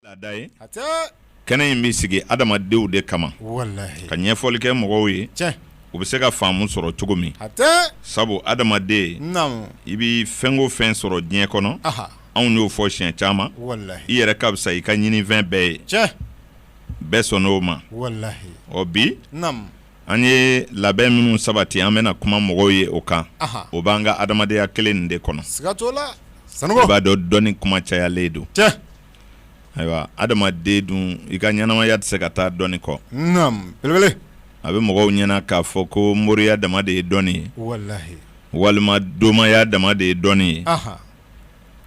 laada ye hatɛɛ kɛnɛ in be sigi adamadenw de kama walahi ka ɲɛfɔli kɛ mɔgɔw ye tiɲɛ u be se ka faamu sɔrɔ cogomin hatɛɛ sabu adamaden naamu i bi fɛn o fɛn sɔrɔ diɲɛ kɔnɔ aha anw y'o fɔ siɲɛ caman walahi i yɛrɛ ka fisa i ka ɲininfɛn bɛɛ ye tiɲɛ bɛɛ sɔnn'o ma walahi ɔ bi naamu an ye labɛn minnu sabati an bena kuma mɔgɔw ye o kan aha o b'an ka adamadenya kelen nin de kɔnɔ siga t'o la i sanɔgɔ b'a dɔn dɔnni kuma cayalen don tiɲɛ ayiwa adamaden dun i ka ɲɛnamaya tɛ se ka taa dɔnni kɔ belebele a bɛ mɔgɔw ɲɛna k'a fɔ ko moriya dama de ye dɔnni ye walima domaya dama de ye dɔnni ye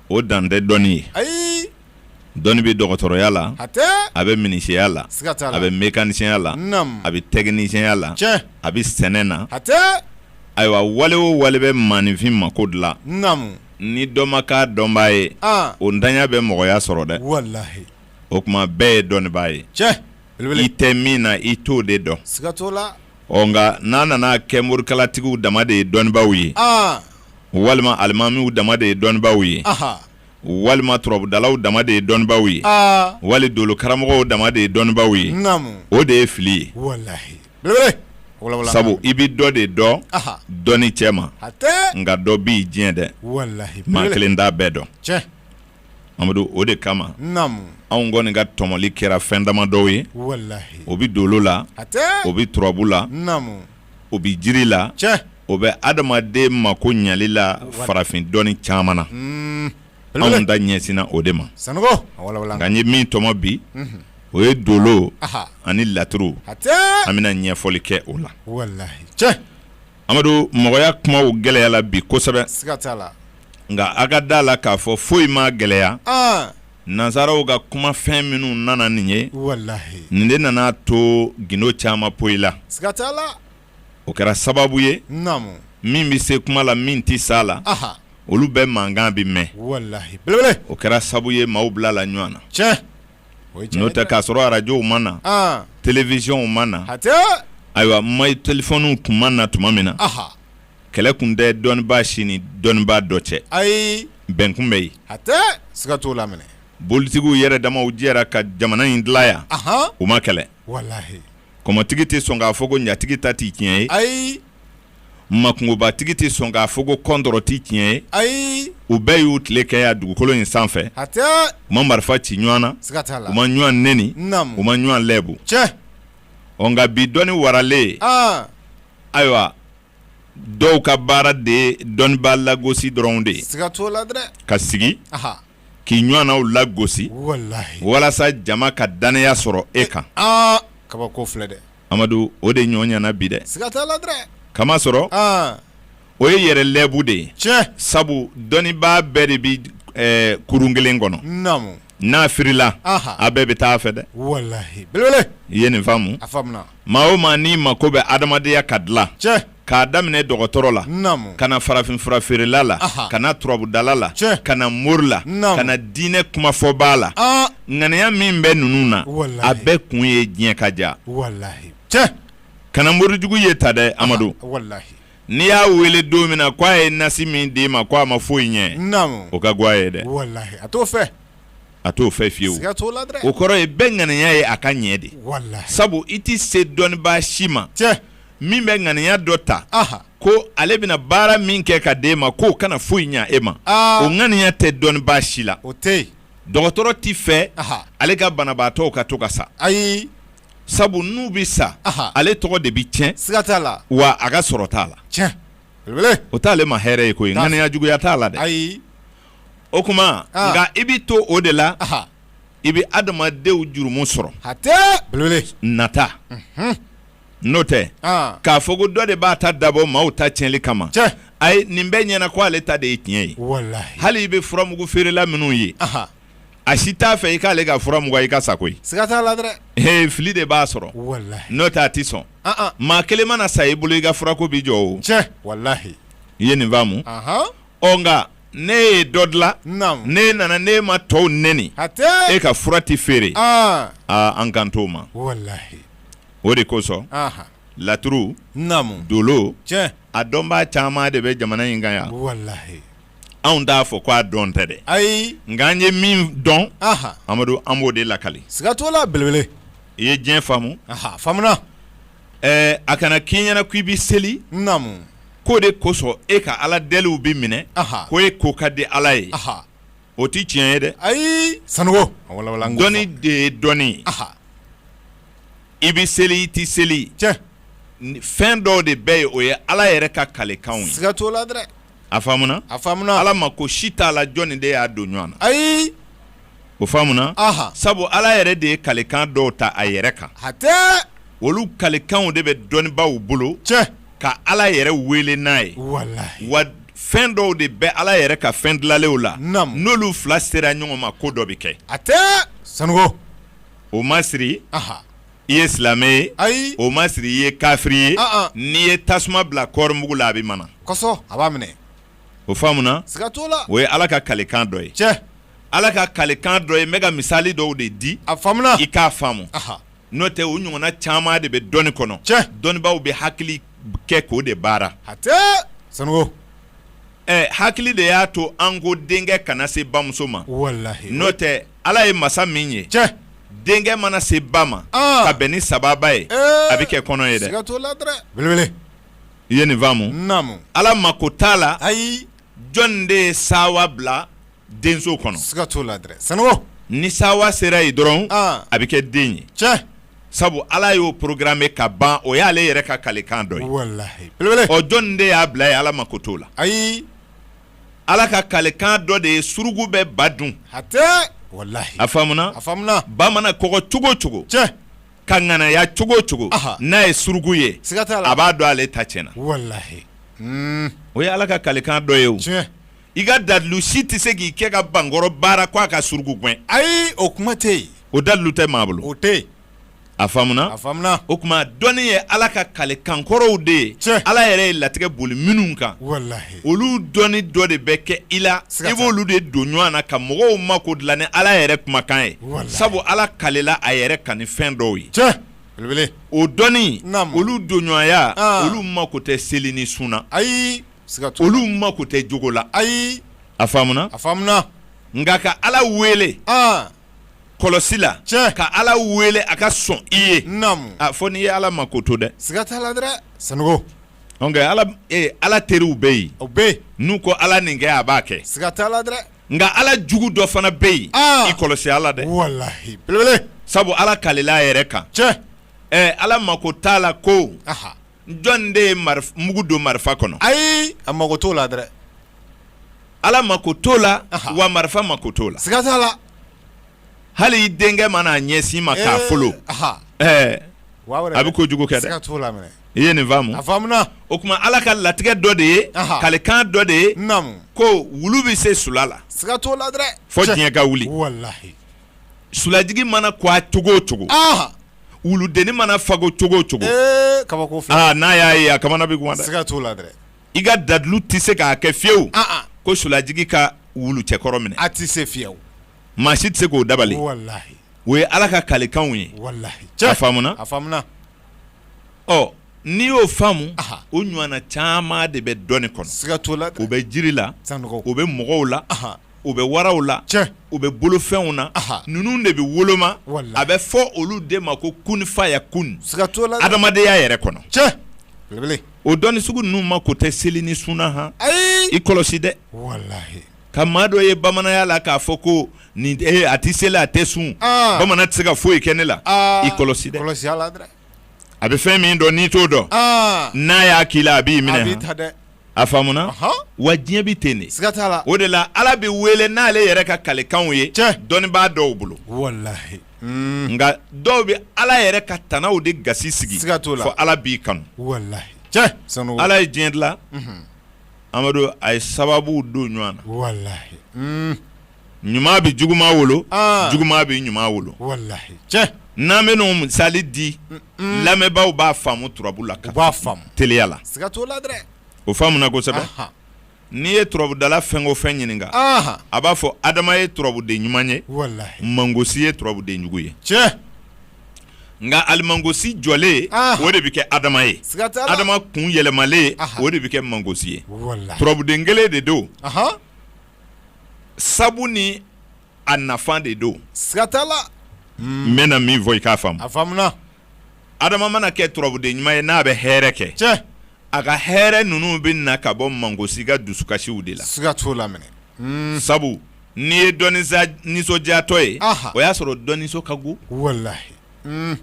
o dan tɛ dɔnni ye ayi dɔnni bɛ dɔgɔtɔrɔya la a bɛ minisiya la a bɛ mɛkanisiyɛnya la a bɛ tɛkinisiyɛnya la a bɛ sɛnɛ na ayiwa wale o wale bɛ maaninfin mako dilan ni dɔ ma k'a dɔnbaa ye o ntanya bɛ mɔgɔya sɔrɔ dɛ o tuma bɛɛ ye dɔnnibaa ye cɛ i tɛ min na i t'o de dɔn ɔ nka n'a nana kɛ morikalatigiw dama de ye dɔnnibaaw ye walima alimamiw dama de ye dɔnnibaaw ye walima turabudalaw dama de ye dɔnnibaaw ye wali dolo karamɔgɔw dama de ye dɔnnibaaw ye o de ye fili ye sabu i bɛ dɔ de dɔn dɔnni cɛma nka dɔ b'i diɲɛ dɛ maa kelen t'a bɛɛ dɔn amadu o de kama anw kɔni ka tɔmɔli kɛra fɛn dama dɔw ye o bɛ dolo la o bɛ turabu la o bɛ jiri la o bɛ adamaden mako ɲali la farafin dɔnni caman na anw ta ɲɛsinna o de ma nka n ye min tɔmɔ bi o ye dolo ani laturu an bɛna ɲɛfɔli kɛ o la amadu mɔgɔya kumaw gɛlɛyala bi kosɛbɛ nka a ka d'a la k'a fɔ foyi m'a gɛlɛya nansaraw ka kumafɛn minnu nana nin ye nin de nan'a to gindo caman poyila o kɛra sababu ye min bɛ se kuma la min tɛ s'a la olu bɛɛ mankan bɛ mɛn o kɛra sababu ye maaw bilala ɲɔgɔn na n'o tɛ k'a sɔrɔ arajow ma na telewizɔnw ma na ayiwa ma telefɔniw tun ma na tuma min na kɛlɛ tun tɛ dɔnnibaa si ni dɔnnibaa dɔ cɛ ayi bɛn tun bɛ yen siga t'a la bolitigiw yɛrɛ damaw jɛra ka jamana in dilan yan u ma kɛlɛ kɔmɔtigi tɛ sɔn k'a fɔ ko ɲatigi ta tɛ tiɲɛ ye ayi makungobatigi tɛ sɔn k'a fɔ ko kɔntɔrɔn tɛ tiɲɛ ye ayi u bɛɛ y'u tile kɛ yan dugukolo in sanfɛ u ma marifa ci ɲɔgɔn na u ma ɲɔgɔn neni u ma ɲɔgɔn lɛbu cɛ ɔ nka bi dɔnni waralen ayiwa dɔw ka baara de dɔnnibaa lagosi dɔrɔn de ye ka sigi k'i ɲɔgɔnnaw lagosi walasa jama ka dannaya sɔrɔ e kan kabako filɛ dɛ amadu o de ɲɔgɔn ɲɛna bi dɛ k'a masɔrɔ o ye yɛrɛ lɛbu de ye cɛ sabu dɔnnibaa bɛɛ de bɛ kurun kelen kɔnɔ n'a firila a bɛɛ bɛ taa fɛ dɛ i ye nin faamu Maa o maa n'i mako bɛ adamadenya ka dilan cɛ k'a daminɛ dɔgɔtɔrɔ la ka na farafinfura feerela la ka na turabudala la ka na mori la ka na diinɛ kumafɔba la ŋaniya min bɛ ninnu na a bɛɛ kun ye diɲɛ ka diya cɛ kana morijugu ye ta dɛ amadu n'i y'a wele don min na k'a ye nasi min d'i ma ko a ma foyi ɲɛ o ka go a ye dɛ a t'o fɛ fiyewu o kɔrɔ ye bɛɛ ŋaniya ye a ka ɲɛ de sabu i tɛ se dɔnnibaa si ma min bɛ ŋaniya dɔ ta ko ale bɛna baara min kɛ ka d'e ma k'o kana foyi ɲɛ e ma ah. o ŋaniya tɛ dɔnnibaa si la dɔgɔtɔrɔ tɛ fɛ ale ka banabaatɔw ka to ka sa ayi sabu n'u bɛ sa ale tɔgɔ de bɛ tiɲɛ wa a ka sɔrɔ t'a la o t'ale ma hɛrɛ ye koyi ŋaniya juguya t'a la dɛ o kuma nka i bɛ to o de la i bɛ adamadenw jurumu sɔrɔ nata n'o tɛ k'a fɔ ko dɔ de b'a ta dabɔ maaw ta tiɲɛli kama ayi nin bɛɛ ɲɛna ko ale ta de ye tiɲɛ ye hali i bɛ furamugu feerela minnu ye a si t'a fɛ i k'ale ka furamugu i ka sa koyi fili de b'a sɔrɔ n'o tɛ a tɛ sɔn maa kelen mana sa i bolo i ka furako bɛ jɔ o i ye nin faamu ɔ nka ne ye dɔ dilan Naamu. ne nana ne ma tɔw neni Hatɛ. e ka fura tɛ feere Aa. aa an kan t'o ma Walahi. o de kosɔn Aha. laturu Naamu. dolo Tiɲɛ. a dɔnbaa caman de bɛ jamana in kan yan Walahi. anw t'a fɔ ko a dɔn tɛ dɛ Ayi. nka an ye min dɔn Aha. amadu an b'o de lakali Siga t'o la belebele. i ye diɲɛ faamu Aha. Faamuna. ɛɛ a kana k'i ɲɛna k'i bɛ seli, naamu, k'o de kosɔn e ka Ala deliw bɛ minɛ, anhan, ko e ko ka di Ala ye, anhan, o tɛ tiɲɛ ye dɛ, ayi, sanuko a wala wala an k'o fɔ, dɔnni de ye dɔnni ye, anhan, i bɛ seli i tɛ seli, tiɲɛ, fɛn dɔw de bɛ yen o ye Ala yɛrɛ ka kalekanw ye, siga t'o la dɛ, a faamuna, a faamuna, Ala mako si t'a la jɔnni de y'a don ɲɔgɔn na, ayi. o faamuna sabu ala yɛrɛ de ye kalikan dɔw ta a yɛrɛ kan olu kalikanw de bɛ dɔnnibaw bolo cɛ ka ala yɛrɛ wele n'a ye wa fɛn dɔw de bɛ ala yɛrɛ ka fɛn dilanlenw la n'olu fila sera ɲɔgɔn ma ko dɔ bɛ kɛ hatɛ sanuko o ma siri i ye silamɛ ye ayi o ma siri i ye kafiri ye n'i ye tasuma bila kɔɔrimugu la a bɛ mana a b'a minɛ o faamuna o ye ala ka kalikan dɔ ye cɛ Ala ka kalekan dɔ ye n bɛ ka misali dɔw de di a i k'a faamu n'o tɛ u ɲɔgɔnna caman de bɛ dɔnni kɔnɔ cɛ dɔnnibaw bɛ hakili kɛ k'o de baara sanogo ɛ hakili de y'a to an ko denkɛ kana se bamuso ma n'o tɛ ala ye masa min ye cɛ denkɛ mana se ba ma ka bɛn ni sababa ye a bɛ kɛ kɔnɔ ye dɛ i ye nin faamu ala mako t'a la ayi jɔn de ye sawa bila denso kɔnɔ? Siga t'o la dɛrɛ, Sanogo, ni sawa sera yen dɔrɔn, an, a bɛ kɛ den ye, tiɲɛ, sabu Ala y'o programmer ka ban o y'ale yɛrɛ ka kalikan dɔ ye, walahi, belebele, ɔ jɔni de y'a bila yen Ala mako t'o la, ayi, Ala ka kalikan dɔ de ye suruku bɛ ba dun, hatɛ, walahi, a faamuna, a faamuna, ba mana kɔgɔ cogo o cogo, tiɲɛ. ka ŋanaya cogo o cogo n'a ye suruku ye a b'a dɔn ale ta tiɲɛna hmm. o ye ala ka kalikan dɔ ye o i ka dalilu si tɛ se k'i kɛ ka bankɔrɔ baara ko a ka suruku gɛn ayi o kuma tɛ yen o dalilu tɛ maa bolo o tɛ yen a faamuna a faamuna o tuma dɔnni ye ala ka kalekan kɔrɔw de ye ala yɛrɛ ye latigɛ boli minnu kan walahi olu dɔnni dɔ de bɛ kɛ i la i b'olu de don ɲɔgɔn na ka mɔgɔw mako dilan ni ala yɛrɛ kumakan ye sabu ala kalela a yɛrɛ kan ni fɛn dɔw ye o dɔnni olu don ɲɔgɔnya olu mako tɛ seli ni sun na ayi olu mako tɛ jogo la ayi a faamuna nka ka ala wele kɔlɔsi la tiɲɛ ka ala wele a ka sɔn i ye naamu a fɔ n'i ye ala mako to dɛ siga t'a la dɛrɛ sanogo donc ala ee ala teriw bɛ yen o bɛ yen n'u ko ala nin kɛ a b'a kɛ siga t'a la dɛrɛ nka ala jugu dɔ fana bɛ yen aa i kɔlɔsi a la dɛ walahi belebele sabu ala kalila a yɛrɛ kan tiɲɛ ɛɛ ala mako t'a la ko aha jɔn de ye mugu don marifa kɔnɔ ayi a mako t'o la dɛ ala mako t'o la wa marifa mako t'o la siga t'a la hali i denkɛ mana a ɲɛsin ma k'a folo ɛɛ a bɛ kojugu kɛ dɛ i ye nin faamu a faamuna o tuma ala ka latigɛ dɔ de ye kalikan dɔ de ye ko wulu bɛ se sula la siga t'o la dɛ fo diɲɛ ka wuli walahi sulajigi mana ko a cogo o cogo wuludennin mana fago cogo o cogo kabako n'a y'a ye a kamana bɛ gan dɛ t'o la dɛ i ka dalilu tɛ se k'a kɛ fiyewu ko sulajigi ka wulu cɛkɔrɔ minɛ a tɛ se fiyewu maa si tɛ se k'o dabali o ye ala ka kalekanw ye a faamuna ɔ n'i y'o faamu o ɲɔgɔnna caman de bɛ dɔnni kɔnɔ siga la o bɛ jiri la o bɛ mɔgɔw la u bɛ waraw la u bɛ bolofɛnw na ninnu de bɛ woloma a bɛ fɔ olu de ma ko kunfaya kun siga t'a la adamadenya yɛrɛ kɔnɔ cɛ o dɔnni sugu ninnu mako tɛ seli ni sun na han i kɔlɔsi dɛ ka maa dɔ ye bamananya la k'a fɔ ko nin a tɛ seli a tɛ sun bamanan tɛ se ka foyi kɛ ne la i kɔlɔsi a bɛ fɛn min dɔn n'i t'o dɔn n'a y'a k'i la a b'i minɛ a faamuna wa diɲɛ bɛ ten de o de la ala bɛ wele n'ale yɛrɛ ka kalekanw ye dɔnnibaa dɔw bolo nka dɔw bɛ ala yɛrɛ ka tanaw de gasi sigi fɔ ala b'i kanu ala ye diɲɛ dilan amadu a ye sababu don ɲɔgɔn na ɲuman bɛ juguman wolo juguman bɛ ɲuman wolo n'an bɛ n'o misali di lamɛnbaaw b'a faamu turabu la ka teliya la o faamuna kosɛbɛ n'i ye turabudala fɛn o fɛn ɲininka a b'a fɔ adama ye turabuden ɲuman ye mangosi ye turabudенjugu ye nka alimangosi jɔlen o de bɛ kɛ adama ye adama kun yɛlɛmalen o de bɛ kɛ mangosi ye turabuden kelen de don sabu ni a nafa de don siga t'a la n bɛna min fɔ i k'a faamu a faamuna adama mana kɛ turabuden ɲuman ye n'a bɛ hɛrɛ kɛ cɛ a ka hɛrɛ ninnu bɛ na ka bɔ mangosi ka dusukasiw de la siga t'o la minɛ hmm. sabu n'i ye dɔ nisa nisɔndiyatɔ ye o y'a sɔrɔ dɔ nisɔn ka go walahi hmm.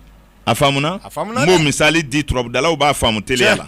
a faamuna n b'o misali di turabudalaw b'a faamu teliya la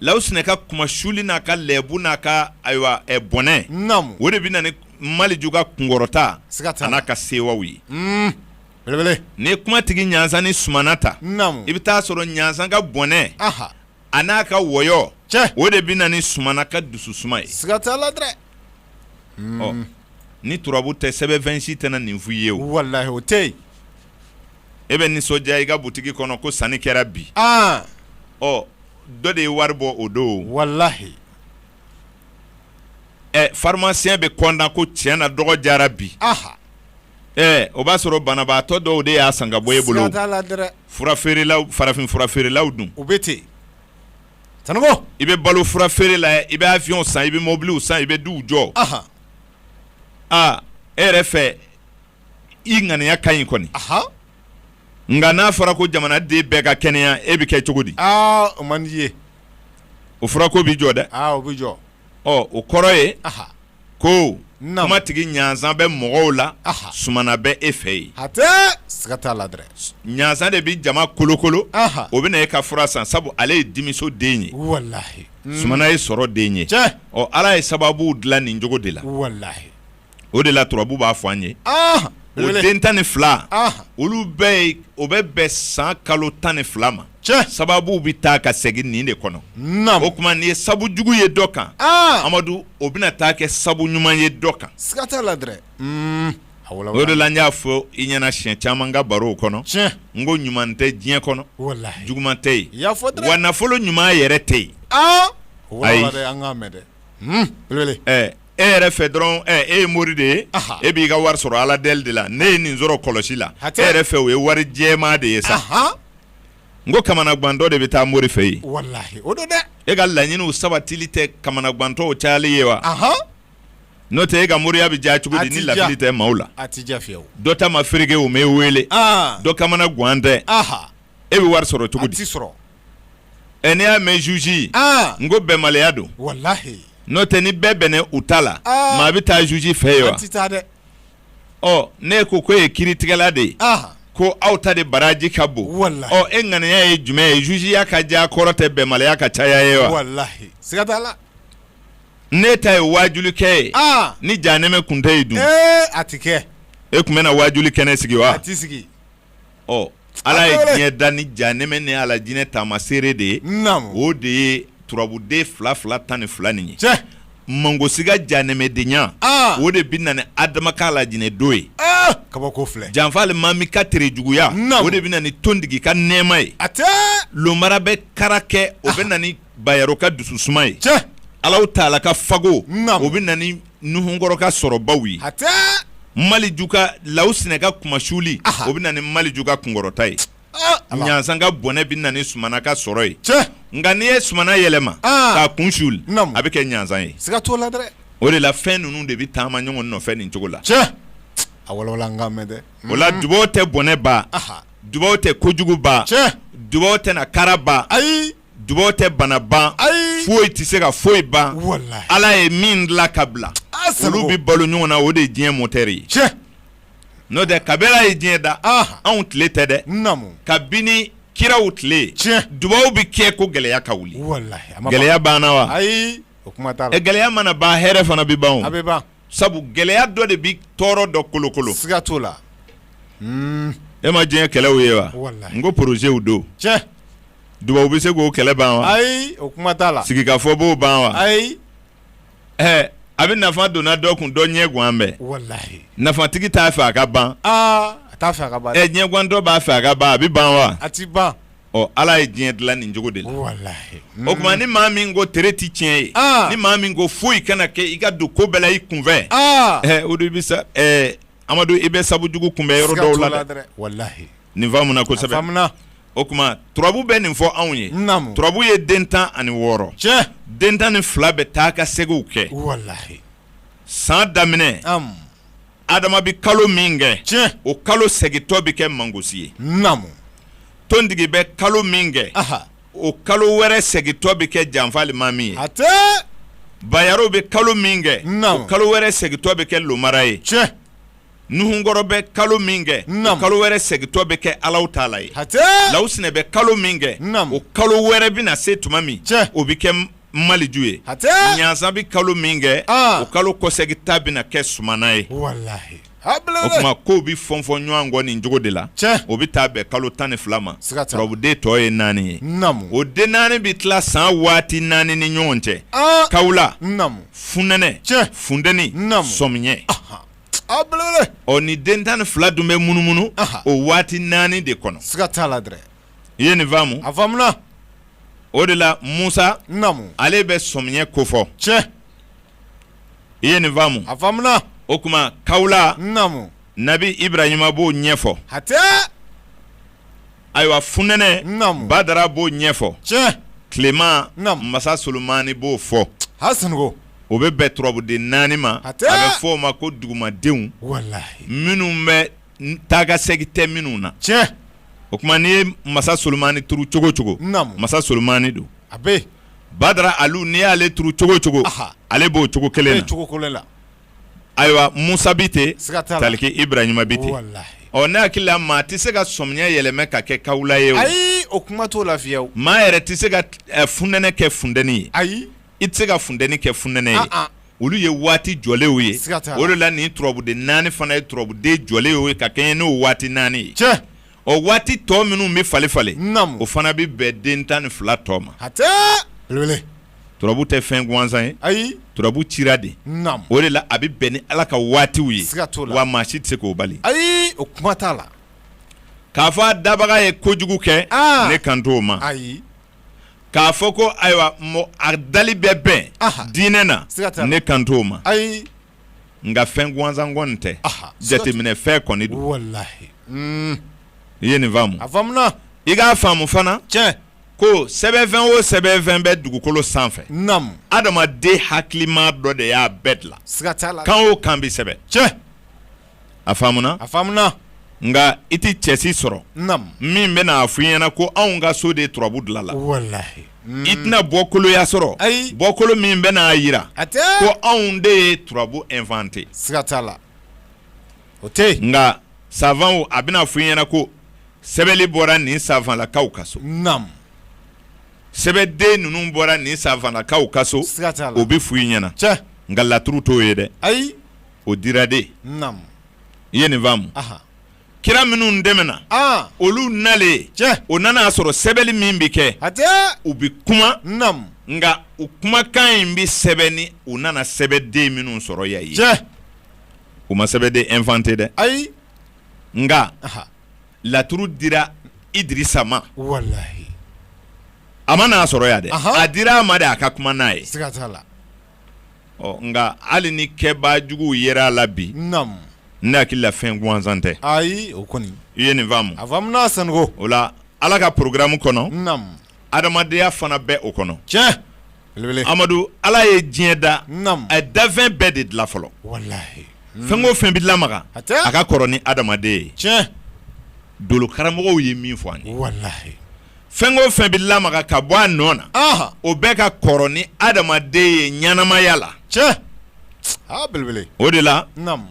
lawusinɛ ka kumasuli n'a ka lɛbu n'a ka ayiwa bɔnɛ o de bɛ na ni maliju ka kunkɔrɔta n'a ka sewaw ye n'i ye kumatigi ɲansan ni sumana ta i bɛ taa sɔrɔ ɲansan ka bɔnɛ a n'a ka wɔyɔ o de bɛ na ni sumana ka dususuma ye ni turabu tɛ sɛbɛnfɛn si tɛna nin f'i ye o tɛ e bɛ nisɔndiya i ka butigi kɔnɔ ko sanni kɛra bi ɔ dɔ de ye wari bɔ o don walahi ɛ pharmacien bɛ kɔntan ko tiɲɛ na dɔgɔ diyara bi ɛ o b'a sɔrɔ banabaatɔ dɔw de y'a san ka bɔ e bolo fura feerela farafin fura feerelaw dun o bɛ ten i bɛ balo fura feere la i bɛ avion san i bɛ mɔbili san i bɛ du jɔ aa e yɛrɛ fɛ i ŋaniya ka ɲi kɔni nka n'a fɔra ko jamanaden bɛɛ ka kɛnɛya e bɛ kɛ cogo di o man d'i ye o fura ko bɛ jɔ dɛ o bɛ jɔ o kɔrɔ ye ko kumatigi ɲansan bɛ mɔgɔw la sumana bɛ e fɛ yen hatɛ siga t'a la ɲansan de bɛ jama kolokolo o bɛ na e ka fura san sabu ale ye dimiso den ye walahi sumana ye sɔrɔ den ye ala ye sababu dilan nin cogo de la o de la turabu b'a fɔ an ye o den tan ni fila olu bɛɛ o bɛ bɛn san kalo tan ni fila ma sababu bɛ taa ka segin nin de kɔnɔ o tuma nin ye sabu jugu ye dɔ kan amadu o bɛna taa kɛ sabu ɲuman ye dɔ kan siga t'a la o de la n y'a fɔ i ɲɛna siɲɛ caman n ka barow kɔnɔ n ko ɲuman tɛ diɲɛ kɔnɔ juguman tɛ yen wa nafolo ɲuman yɛrɛ tɛ yen ayi e yɛrɛ fɛ dɔrɔn e ye mori de ye e b'i ka wari sɔrɔ ala deli de la ne ye nin sɔrɔ kɔlɔsi la e yɛrɛ fɛ o ye wari jɛman de ye sa n ko kamanagantɔ de bɛ taa mori fɛ yen o don dɛ e ka laɲiniw sabatili tɛ kamanagantɔw cayali ye wa n'o tɛ e ka moriya bɛ diya cogo di ni lafili tɛ maaw la dɔ ta ma fereke o m'e weele dɔ kamanagan tɛ e bɛ wari sɔrɔ cogo di a tɛ sɔrɔ ɛ n'i y'a mɛn jugeya n ko bɛnbaliya don walahi n'o tɛ ni bɛɛ bɛnna u ta la aa maa bɛ taa juge fɛ yen wa an tɛ taa dɛ ɔ ne ko k'o ye kiritigɛla de ye aa ko aw ta de baraji ka bon walahi ɔ e ŋaniya ye jumɛn ye jugeya ka diya kɔrɔ tɛ bɛnbaliya ka caya ye wa walahi siga t'a la ne ta ye waajulikɛ ye aa ni janɛmɛ kun tɛ yen dun ee a tɛ kɛ e tun bɛna waajuli kɛnɛ sigi wa a tɛ sigi ɔ Ala ye diɲɛ da ni janɛmɛ ni alajinɛ taamaseere de ye, naamu, o de ye turabu den fila fila tan ni fila nin ye, tiɲɛ, mangosi ka janɛmɛdenya, an, o de bɛ na ni Adama ka alajinɛ don ye, aa, kabako filɛ, janfa alimami ka terejuguya, naamu, o de bɛ na ni tontigi ka nɛɛma ye, hatɛ, lomara bɛ kara kɛ o bɛ na ni bayaro ka dususuma ye cɛ alaw taala ka fago Naamu. o bɛ na ni nuhunkɔrɔ ka sɔrɔbaw ye hatɛ maliju ka lawsinɛ ka kunmasuli Aha. o bɛ na ni maliju ka kunkɔrɔta ye Ah, ala. ɲansan ka bɔnɛ bɛ na ni sumana ka sɔrɔ ye cɛ nka n'i ye sumana yɛlɛma Ah. k'a kun suli Naamu. a bɛ kɛ ɲansan ye siga t'o la dɛ o de la fɛn ninnu de bɛ taama ɲɔgɔn nɔfɛ nin cogo la cɛ a walawala an k'a mɛn dɛ o la dubaw tɛ bɔnɛ ban aha dubaw tɛ kojugu ban cɛ dubaw tɛna kara ban ayi dubaw tɛ bana ban ayi foyi tɛ se ka foyi ban ala ye min dilan k'a bila olu bɛ balo ɲɔgɔn na o de ye diɲɛ motɛri ye cɛ n'o tɛ kabi ala ye diɲɛ da anw tile tɛ dɛ kabini kiraw tile tiɲɛ dubaw bɛ kɛ ko gɛlɛya ka wuli gɛlɛya banna wa ayi o gɛlɛya mana ban hɛrɛ fana bɛ ban sabu gɛlɛya dɔ de bɛ tɔɔrɔ dɔ kolokolo siga t'o la e ma diɲɛ kɛlɛw ye wa n ko porozɛw don cɛ dubaw bɛ se k'o kɛlɛ ban wa ayi o kuma t'a la sigikafɔ b'o ban wa ayi a bɛ nafa donna dɔ kun dɔ ɲɛ gannen bɛ nafatigi t'a fɛ a ka ban a t'a fɛ ɲɛgantɔ b'a fɛ a ka ban a bɛ ban wa a tɛ ban ɔ ala ye diɲɛ dilan nin cogo de la walahi o tuma ni maa min ko tere tɛ tiɲɛ ye ni maa min ko foyi kana kɛ i ka don ko bɛɛ la i kunfɛ o de bɛ sa amadu i bɛ sabu jugu kunbɛn yɔrɔ dɔw la dɛ walahi nin faamuna kosɛbɛ o tuma turabu bɛ nin fɔ anw ye turabu ye den tan ani wɔɔrɔ tiɲɛ den tan ni fila bɛ taakaseginw kɛ walahi san daminɛ adama bɛ kalo min kɛ tiɲɛ o kalo segintɔ bɛ kɛ mangosi ye naamu tontigi bɛ kalo min kɛ o kalo wɛrɛ segintɔ bɛ kɛ janfalimami ye hatɛ bayaro bɛ kalo min kɛ o kalo wɛrɛ segintɔ bɛ kɛ lomara ye tiɲɛ nuhunkɔrɔ bɛ kalo min kɛ o kalo wɛrɛ segintɔ bɛ kɛ alaw taala ye lawusinɛ bɛ kalo min kɛ o kalo wɛrɛ bɛna se tuma min o bɛ kɛ maliju ye ɲansa bɛ kalo min kɛ o kalo kɔseginta bɛna kɛ sumana ye o tuma kow bɛ fɔfɔ ɲɔgɔn kɔ nin cogo de la o bɛ taa bɛn kalo tan ni fila ma turabuden tɔ ye naani ye o den naani bɛ tila san waati naani ni ɲɔgɔn cɛ kawula funɛnɛ funteni sɔmiɲɛ ɔ ni den tan ni fila dun bɛ munumunu o waati naani de kɔnɔ i ye nin faamu a faamuna o de la musa naamu ale bɛ sɔmiɲɛ kofɔ tiɲɛ i ye nin faamu a faamuna o tuma kawula naamu nabi ibrahima b'o ɲɛfɔ hatɛ ayiwa funɛnɛ naamu badara b'o ɲɛfɔ tiɲɛ tilema naamu masa solomani b'o fɔ hasanko o bɛ bɛn turabuden naani ma hatɛ a bɛ fɔ o ma ko dugumadenw walahi minnu bɛ taakasegin tɛ minnu na, tiɲɛ, o tuma n'i ye masa Solomani turu cogo o cogo, naamu, masa Solomani don, a bɛ yen, Badara Alu n'i y'ale turu cogo o cogo, aha, ale b'o cogo kelen na, cogo kelen na, ayiwa Musa bɛ ten, siga t'a la, taliki Iburahima bɛ ten, walahi, ɔ ne hakili la maa tɛ se ka sɔmiɲɛ yɛlɛma ka kɛ kawula ye o, ayi o kuma t'o la fiyew, maa yɛrɛ tɛ se ka funɛnɛ kɛ funteni ye, ayi i tɛ se ka funteni kɛ funɛnɛ ye olu ye waati jɔlenw ye o de la nin turabuden naani fana ye turabuden jɔlenw ye ka kɛɲɛ n'o waati naani ye tiɲɛ o waati tɔ minnu bɛ falen falen o fana bɛ bɛn den tan ni fila tɔ ma turabu tɛ fɛn gansan ye ayi turabu cira de o de la a bɛ bɛn ni ala ka waatiw ye wa maa si tɛ se k'o bali ayi o kuma t'a la k'a fɔ a dabaga ye kojugu kɛ ne kan t'o ma ayi k'a fɔ ko ayiwa a dali bɛ bɛn diinɛ na ne kan t'o ma ayi nka fɛn gansan kɔni tɛ jateminɛ fɛn kɔni don i ye nin faamu i k'a faamu fana tiɲɛ ko sɛbɛnfɛn o sɛbɛnfɛn bɛ dugukolo sanfɛ adamaden hakilima dɔ de y'a bɛɛ dilan kan o kan bɛ sɛbɛn tiɲɛ a faamuna a faamuna nka i tɛ cɛ si sɔrɔ min bɛn'a f'i ɲɛna ko anw ka so de turabu dilanla i tɛna bɔkoloya sɔrɔ ayi bɔkolo min bɛn'a jira ko anw de ye turabu inventé siga t'a la o tɛ nka savanw a bɛna f'i ɲɛna ko sɛbɛnli bɔra nin savanlakaw ka so sɛbɛden ninnu bɔra nin savanlakaw ka so o bɛ f'i ɲɛna nka laturu t'o ye dɛ ayi o dira de i ye nin faamu kira minnu tɛmɛna olu nalen o nana a sɔrɔ sɛbɛnni min bɛ kɛ u bɛ kuma nka u kumakan in bɛ sɛbɛn ni u nana sɛbɛnden minnu sɔrɔ yan ye u ma sɛbɛnden inventé dɛ ayi nka laturu dira Idirisa ma a ma n'a sɔrɔ yan dɛ a dira a ma de a ka kuma n'a ye ɔ nka hali ni kɛbaa juguw yera a la bi naamu ne hakili la fɛn gansan tɛ ayi o kɔni i ye nin faamu a faamuna Sanogo o la Ala ka programme kɔnɔ naamu adamadenya fana bɛ o kɔnɔ tiɲɛ belebele Amadu Ala ye diɲɛ da naamu a ye dafɛn bɛɛ de dilan fɔlɔ walahi fɛn o fɛn bɛ lamaga hatɛ a ka kɔrɔ ni adamaden ye tiɲɛ dolokaramɔgɔw ye min fɔ an ye walahi fɛn o fɛn bɛ lamaga ka bɔ a nɔ na Ɔnhɔn. o bɛɛ ka kɔrɔ ni adamaden ye ɲɛnamaya la tiɲɛ a belebele o de la naamu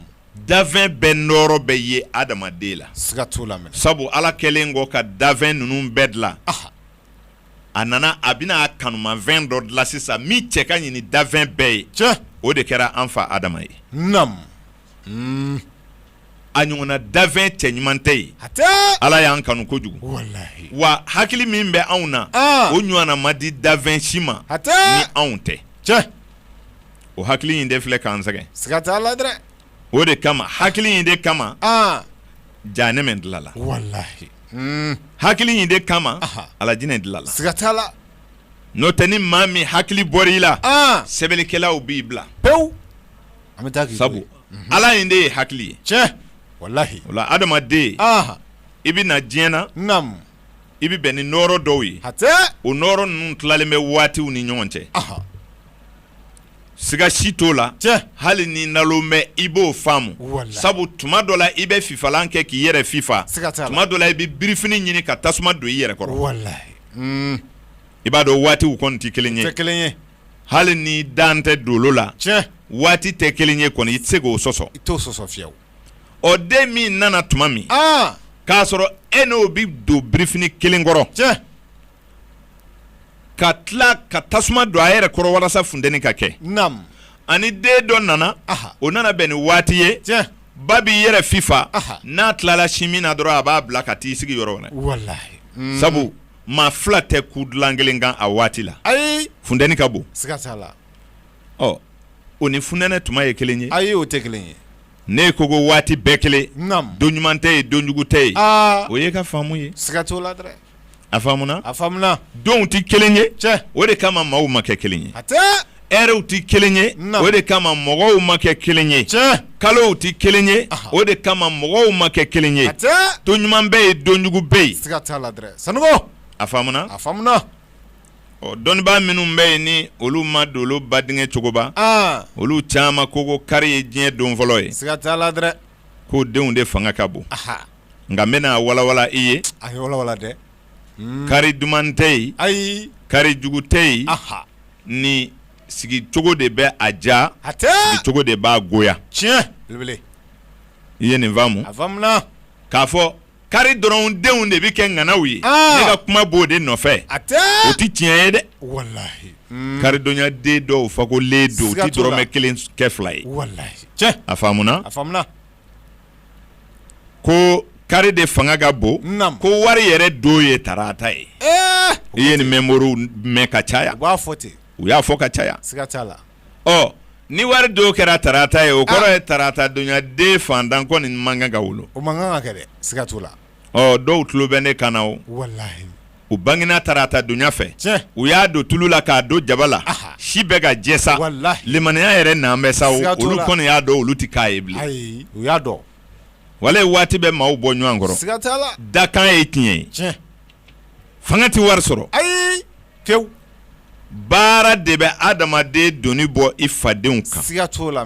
dafɛn bɛɛ nɔɔrɔ bɛ ye adamaden la siga t'o la mɛnɛ sabu ala kɛlen kɔ ka dafɛn ninnu bɛɛ dilan Aha. a nana a bɛna a kanumafɛn dɔ dilan sisan min cɛ ka ɲi ni dafɛn bɛɛ ye tiɲɛ o de kɛra an fa adama ye naamu a ɲɔgɔnna dafɛn cɛɲuman tɛ yen ala y'an kanu kojugu wa hakili min bɛ anw na o ɲɔgɔnna ma di dafɛn si ma ni anw tɛ tiɲɛ o hakili in de filɛ k'an sɛgɛn siga t'a la dɛ o de kama hakili in de kama jahanama dilanla hakili in de kama alijinɛ dilanla siga t'a la n'o tɛ ni maa min hakili bɔr'i la sɛbɛnnikɛlaw b'i bila pewu an bɛ taa k'i sabu Ala in de ye hakili ye, tiɲɛ, walahi, o la adamaden, anhan, i bɛ na diɲɛ na, naamu, i bɛ bɛn ni nɔɔrɔ dɔw ye, hatɛ, o nɔɔrɔ ninnu tilalen bɛ waatiw ni ɲɔgɔn cɛ, anhan, siga si t'o la, tiɲɛ, hali n'i nalon bɛ i b'o faamu, walahi, sabu tuma dɔ la i bɛ fifalan kɛ k'i yɛrɛ fifa, siga t'a la, tuma dɔ la i bɛ birifini ɲini ka tasuma don i yɛrɛ kɔrɔ, walahi, un, i b'a dɔn waatiw kɔni tɛ kelen ye, u tɛ kelen ye. hali n'i dalen tɛ dolo la waati tɛ kelen ye kɔni i tɛ se k'o sɔsɔ i t'o sɔsɔ fiyewu ɔ den min nana tuma min k'a sɔrɔ e n'o bɛ don birifini kelen kɔrɔ cɛ ka tila ka tasuma don a yɛrɛ kɔrɔ walasa funteni ka kɛ ani den dɔ nana o nana bɛn ni waati ye ba b'i yɛrɛ fifa n'a tilala sin min na dɔrɔn a b'a bila ka taa i sigi yɔrɔ wɛrɛ sabu maa fila tɛ kun dilan kelen kan a waati la ayi funteni ka bon siga t'a la ɔ o ni funɛnɛ tuma ye kelen ye ayi o tɛ kelen ye n'e ko ko waati bɛɛ kelen don ɲuman tɛ yen donjugu tɛ yen o y'e ka faamu ye siga t'o la dɛ a faamuna a faamuna donw tɛ kelen ye cɛ o de kama maaw ma kɛ kelen ye ɛriw tɛ kelen ye o de kama mɔgɔw ma kɛ kelen ye kalow tɛ kelen ye o de kama mɔgɔw ma kɛ kelen ye don ɲuman bɛ yen donjugu bɛ yen a faamuna a faamuna ɔ dɔnnibaa minnu bɛ yen ni olu ma dolo ba denkɛ cogoba olu caman ko ko kari ye diɲɛ don fɔlɔ ye k'o denw de fanga ka bon nka n bɛna walawala i ye kari duman tɛ yen ayi kari jugu tɛ yen ni sigicogo de bɛ a diya cogo de b'a goya tiɲɛ i ye nin faamu a faamuna k'a fɔ kari dɔrɔn denw de bɛ kɛ ŋanaw ye ne ka kuma b'o de nɔfɛ a o tɛ tiɲɛ ye dɛ karidonyaden dɔw fakolen don u tɛ dɔrɔmɛ kelen kɛ fila ye a ko kari de fanga ka bon ko wari yɛrɛ don ye tarata ye i ye nin mɛn ka caya u b'a fɔ ten u y'a fɔ ka caya siga t'a la ɔ ni wari don kɛra tarata ye o kɔrɔ ye tarata donya den fantan kɔni man kan ka wolo o man kan ka kɛ dɛ siga t'o la dɔw tulo bɛ ne kan na o u bangena tarata donya fɛ u y'a don tulu la k'a don jaba la si bɛ ka jɛ sa limaniya yɛrɛ nalen bɛ sa olu kɔni y'a dɔn olu tɛ k'a ye bilen u y'a dɔn walahi waati bɛ maaw bɔ ɲɔgɔn kɔrɔ dakan ye tiɲɛ ye fanga tɛ wari sɔrɔ ayi ke baara de bɛ adamaden doni bɔ i fadenw kan siga t'o la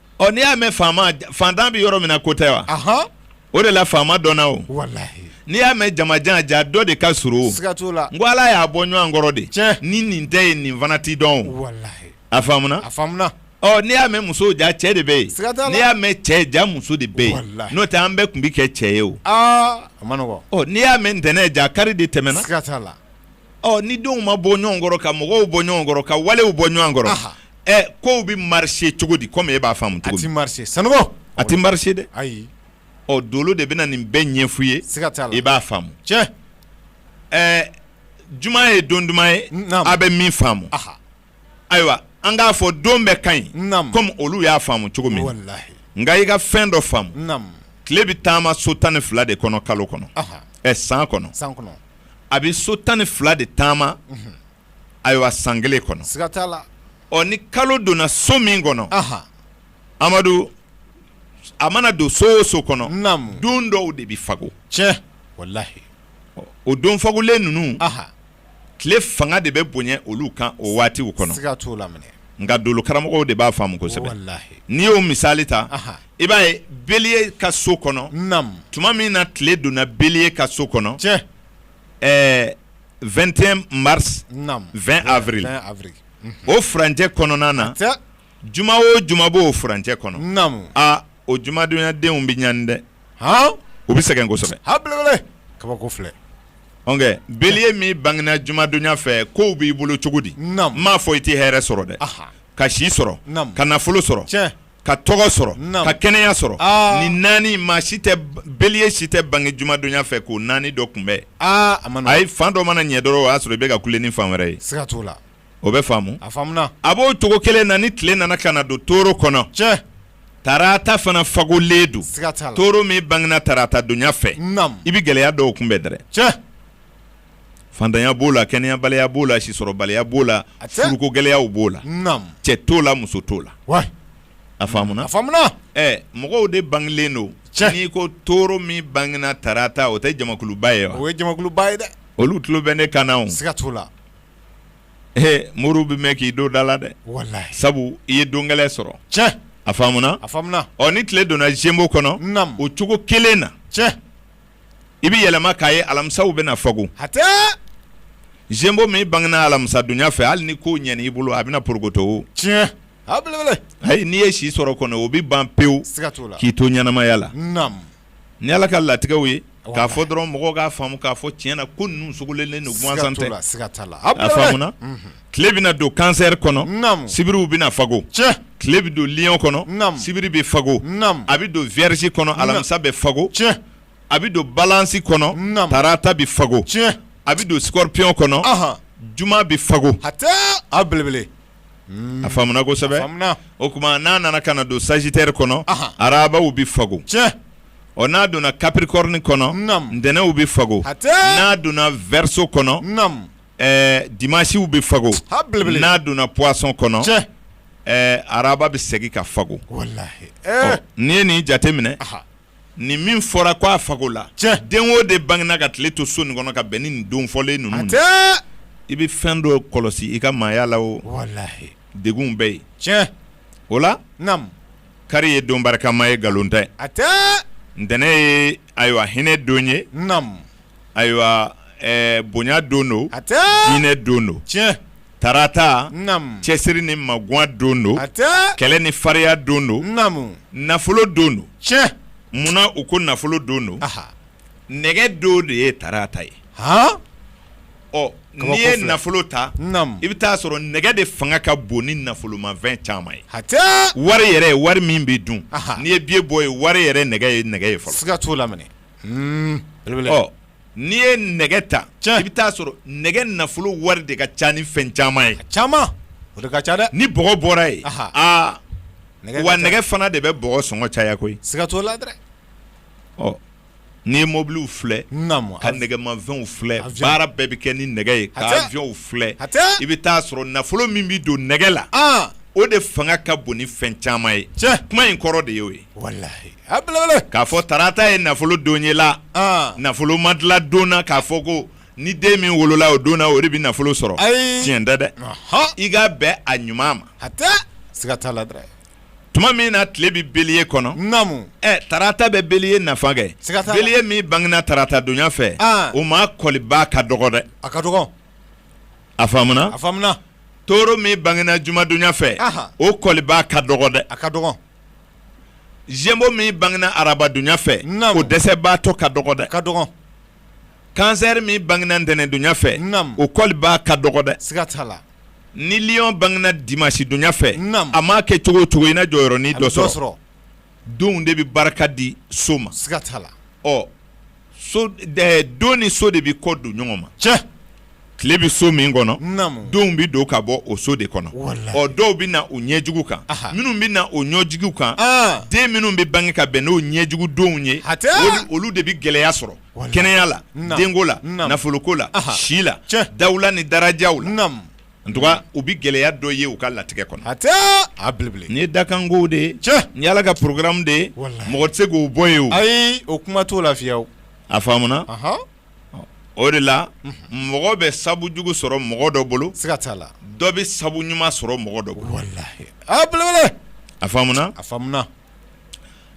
ɔ n'i y'a mɛn faama fantan bɛ yɔrɔ min na ko tɛ wa Ahan. o de la faama dɔnna o Walahi. n'i y'a mɛn jamajan ja dɔ de ka surun o Siga t'o la. n ko ala y'a bɔ ɲɔgɔn kɔrɔ de Tiɲɛ. ni nin tɛ yen nin fana tɛ dɔn o Walahi. a faamuna A faamuna. ɔ n'i y'a mɛn muso ja cɛ de bɛ yen Siga t'a la. n'i y'a mɛn cɛ ja muso de bɛ yen Walahi. n'o tɛ an bɛɛ tun bɛ kɛ cɛ ye o Aa. A ma nɔgɔ. ɔ n'i y'a mɛn ntɛnɛn ja kari de tɛmɛna Siga t'a la. ɔ ni denw ma bɔ ɲɔgɔn kɔrɔ ka mɔgɔw bɔ ɲɔgɔn kɔrɔ ka walew bɔ ɲɔgɔn kɔrɔ Aha. ɛ kow bɛ marcher cogo di komi e b'a faamu cogo min, a tɛ marcher Sanogo, a tɛ marcher dɛ, ayi, ɔ dolo de bɛna nin bɛɛ ɲɛfɔ i ye, siga t'a la, i b'a faamu, tiɲɛ, ɛ juma ye don duman ye, naamu, a bɛ min faamu, aha, ayiwa an k'a fɔ don bɛɛ ka ɲi, naamu, komi olu y'a faamu cogo min, walahi, nka i ka fɛn dɔ faamu, naamu, tile bɛ taama so tan ni fila de kɔnɔ kalo kɔnɔ, ɔhɔ, ɛ san kɔnɔ, san kɔnɔ, a bɛ so tan ni fila de taama, unhun ayiwa san kelen kɔnɔ ɔ ni kalo donna so min kɔnɔ amadu a mana don so o so kɔnɔ don dɔw de bɛ fago tiɲɛ walayi o don fagolen ninnu tile fanga de bɛ bonya olu kan o waatiw kɔnɔ nka dolo karamɔgɔw de b'a faamu kosɛbɛ n'i y'o misali ta i b'a ye Bélier ka so kɔnɔ tuma min na tile donna Bélier ka so kɔnɔ ɛɛ 21 mars naam 20 avril 20 avril unhun o furancɛ kɔnɔna na hatɛ juma o juma b'o furancɛ kɔnɔ naamu aa o jumadonyadenw bɛ ɲani dɛ haan u bɛ sɛgɛn kosɛbɛ a belebele kabako filɛ ɔnkɛ bélier min bangena jumadonya fɛ kow b'i bolo cogo di naamu n m'a fɔ i tɛ hɛrɛ sɔrɔ dɛ aha ka si sɔrɔ Naamu. ka nafolo sɔrɔ tiɲɛ ka tɔgɔ sɔrɔ ka kɛnɛya sɔrɔ nin naani maa si tɛ Bélier si tɛ bange jumadonya fɛ k'o naani dɔ kunbɛn ayi fan dɔ mana ɲɛ dɔrɔn o y'a sɔrɔ i bɛ ka kule ni fan wɛrɛ ye siga t'o la o bɛ faamu a faamuna a b'o cogo kelen na ni tile nana ka na don Taureau kɔnɔ tiɲɛ tarata fana fagolen don siga t'a la Taureau min bangena tarata donya fɛ naam i bɛ gɛlɛya dɔw kunbɛn dɛrɛ cɛ fantanya b'o la kɛnɛyabaliya b'o la sisɔrɔbaliya b'o la hatɛ, furuko gɛlɛyaw b'o la, naamu, cɛ t'o la muso t'o la, wayi, a faamuna, a faamuna, ɛ mɔgɔw de bangelen don, tiɲɛ, n'i ko Taureau min bangena tarata o tɛ jamakuluba ye wa, o ye jamakuluba ye dɛ, olu tulo bɛ ne kan na o, siga t'o la, he moriw bɛ mɛn k'i don da la dɛ, walahi, sabu i ye don gɛlɛn sɔrɔ, tiɲɛ, a faamuna, a faamuna, ɔ ni tile donna Gémeaux kɔnɔ, naamu, o cogo kelen na, tiɲɛ. i bɛ yɛlɛma k'a ye alamisaw bɛna fago hatɛ Gémeaux min bangena alamisadonya fɛ hali ni ko ɲɛna i bolo a bɛna porokoto o tiɲɛ a belebele ayi n'i ye si sɔrɔ kɔni o bɛ ban pewu siga t'o la k'i to ɲɛnamaya la naamu ni Ala ka latigɛw ye k'a fɔ dɔrɔn mɔgɔw k'a faamu k'a fɔ tiɲɛ na ko ninnu sogolonnen don gansan tɛ siga t'o la siga t'a la a belebele a faamuna unhun tile bɛna don Cancer kɔnɔ sibiriw bɛna fago tile bɛ don Lion kɔnɔ sibiri bɛ fago a bɛ don Vierge kɔnɔ alamisa bɛ fago a bɛ don Balance kɔnɔ tarata bɛ fago a bɛ don Scorpion kɔnɔ juma bɛ fago a belebele a faamuna kosɛbɛ o kuma n'a nana ka na don Sagittaire kɔnɔ arabaw bɛ fago ɔ n'a donna Capricorne kɔnɔ ntɛnɛnw bɛ fago n'a donna Verseau kɔnɔ ɛɛ dimanches bɛ fago, a belebele, n'a donna poisson kɔnɔ, tiɲɛ, ɛɛ araba bɛ segin ka fago, walahi, ee, ɔ n'i ye nin jate minɛ, anhan, nin min fɔra k'a fago la, tiɲɛ, den o den bangena ka tile to so nin kɔnɔ ka bɛn ni nin don fɔlen ninnu ma, hatɛ, i bɛ fɛn dɔ kɔlɔsi i ka maaya la o, walahi, degunw bɛ yen, tiɲɛ, o la, naamu, kari ye don barikama ye nkalon tɛ, hatɛ, ntɛnɛn ye ayiwa hinɛ don ye, naamu. ayiwa bonya don don a diinɛ don don tiɲɛ tarata cɛsiri ni magan don don a kɛlɛ ni fariya don don nafolo don don tiɲɛ munna u ko nafolo don don nɛgɛ don de ye tarata ye ɔ n'i ye nafolo ta i bɛ t'a sɔrɔ nɛgɛ de fanga ka bon ni nafolomafɛn caman ye wari yɛrɛ wari min bɛ dun n'i ye biye bɔ ye wari yɛrɛ nɛgɛ ye nɛgɛ ye siga t'o la n'i ye nɛgɛ ta i bɛ t'a sɔrɔ nɛgɛ nafolo wari de ka ca ni fɛn caman ye caman o ka ca dɛ ni bɔgɔ bɔra yen wa nɛgɛ fana de bɛ bɔgɔ sɔngɔ caya koyi siga t'o la ɔ n'i ye mɔbiliw filɛ ka nɛgɛmafɛnw filɛ baara bɛɛ bɛ kɛ ni nɛgɛ ye ka aviyɔnw filɛ i bɛ t'a sɔrɔ nafolo min bɛ don nɛgɛ la o de fanga ka bon ni fɛn caman ye cɛ kuma in kɔrɔ de y'o ye K'a fɔ tarata ye nafolo don ye la nafolo ma dilan don na k'a fɔ ko ni den min wolola o don na o de bɛ nafolo sɔrɔ tiɲɛ tɛ dɛ i ka bɛn a ɲuman ma siga t'a la tuma min na tile bɛ beliye kɔnɔ tarata bɛ beliye nafa kɛ beliye min bangena tarata donya fɛ o maa kɔliba ka dɔgɔ dɛ a ka dɔgɔ a faamuna toro min bangena jumadonya fɛ o kɔliba ka dɔgɔ dɛ a ka dɔgɔ zemo min bangena arabadonya fɛ o dɛsɛbaatɔ ka dɔgɔ dɛ ka dɔgɔ kansɛri min bangena ntɛnɛndonya fɛ o kɔliba ka dɔgɔ dɛ siga t'a la ni liɔn bangena dimansidonya fɛ a maa kɛ cogo o cogo i na jɔyɔrɔnin dɔ sɔrɔ donw de bɛ barika di so ma siga t'a la ɔ don ni so de bɛ kɔ don ɲɔgɔn ma cɛ tile bɛ so min kɔnɔ donw bɛ don ka bɔ o so de kɔnɔ ɔ dɔw bɛ na o ɲɛjugu kan minnu bɛ na o ɲɛjugu kan den minnu bɛ bange ka bɛn n'o ɲɛjugu donw ye olu de bɛ gɛlɛya sɔrɔ kɛnɛya la denko la nafoloko la si la dawula ni darajaw la en tout cas u bɛ gɛlɛya dɔ ye u ka latigɛ kɔnɔ nin ye dakanko de nin ye ala ka porogaramu de mɔgɔ tɛ se k'o bɔ ye ayi o kuma t'o la fiyewu a faamuna o de la mɔgɔ bɛ sabu jugu sɔrɔ mɔgɔ dɔ bolo siga t'a la dɔ bɛ sabu ɲuman sɔrɔ mɔgɔ dɔ bolo a belebele a faamuna a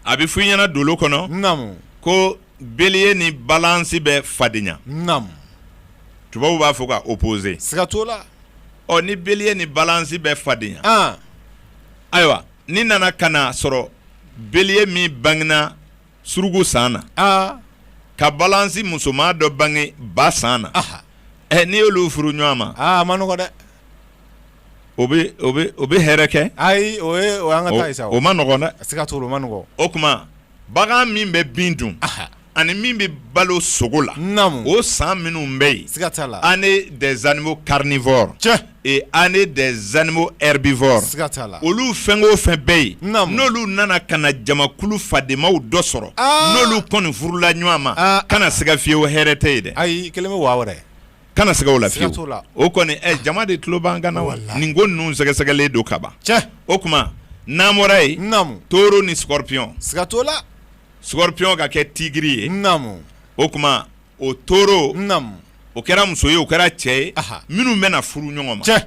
a bɛ fɔ i ɲɛna dolo kɔnɔ ko bélier ni balance bɛ fadenya tubabu b'a fɔ ka opposer siga t'a la ɔ ni bélier ni balance bɛ fadenya ayiwa ni nana ka na sɔrɔ bélier min bangena suruku san na ka balance musoman dɔ bange ba san na ɛ n'i y'olu furu ɲɔgɔn ma a man nɔgɔ dɛ o bɛ hɛrɛ kɛ ayi o o man nɔgɔ dɛ a se ka to o man nɔgɔ o tuma bagan min bɛ bin dun ani min bɛ balo sogo la o san minnu bɛ yen siga t'a la année des animaux carnivores tiɲɛ année des animaux herbivores siga t'a la olu fɛn o fɛn bɛ yen n'olu nana ka na jamakulu fadenmaw dɔ sɔrɔ n'olu kɔni furula ɲɔgɔn ma kana siga fiyewu hɛrɛ tɛ yen dɛ ayi kelen bɛ waa wɛrɛ kana siga o la fiyewu o kɔni jama de tulo b'an kan na wa nin ko ninnu sɛgɛsɛgɛlen don kaban o tuma n'an bɔra yen taureau ni scorpion siga t'o la scorpion ka kɛ tigiri ye o tuma o taureau o kɛra muso ye o kɛra cɛ ye minnu bɛna furu ɲɔgɔn ma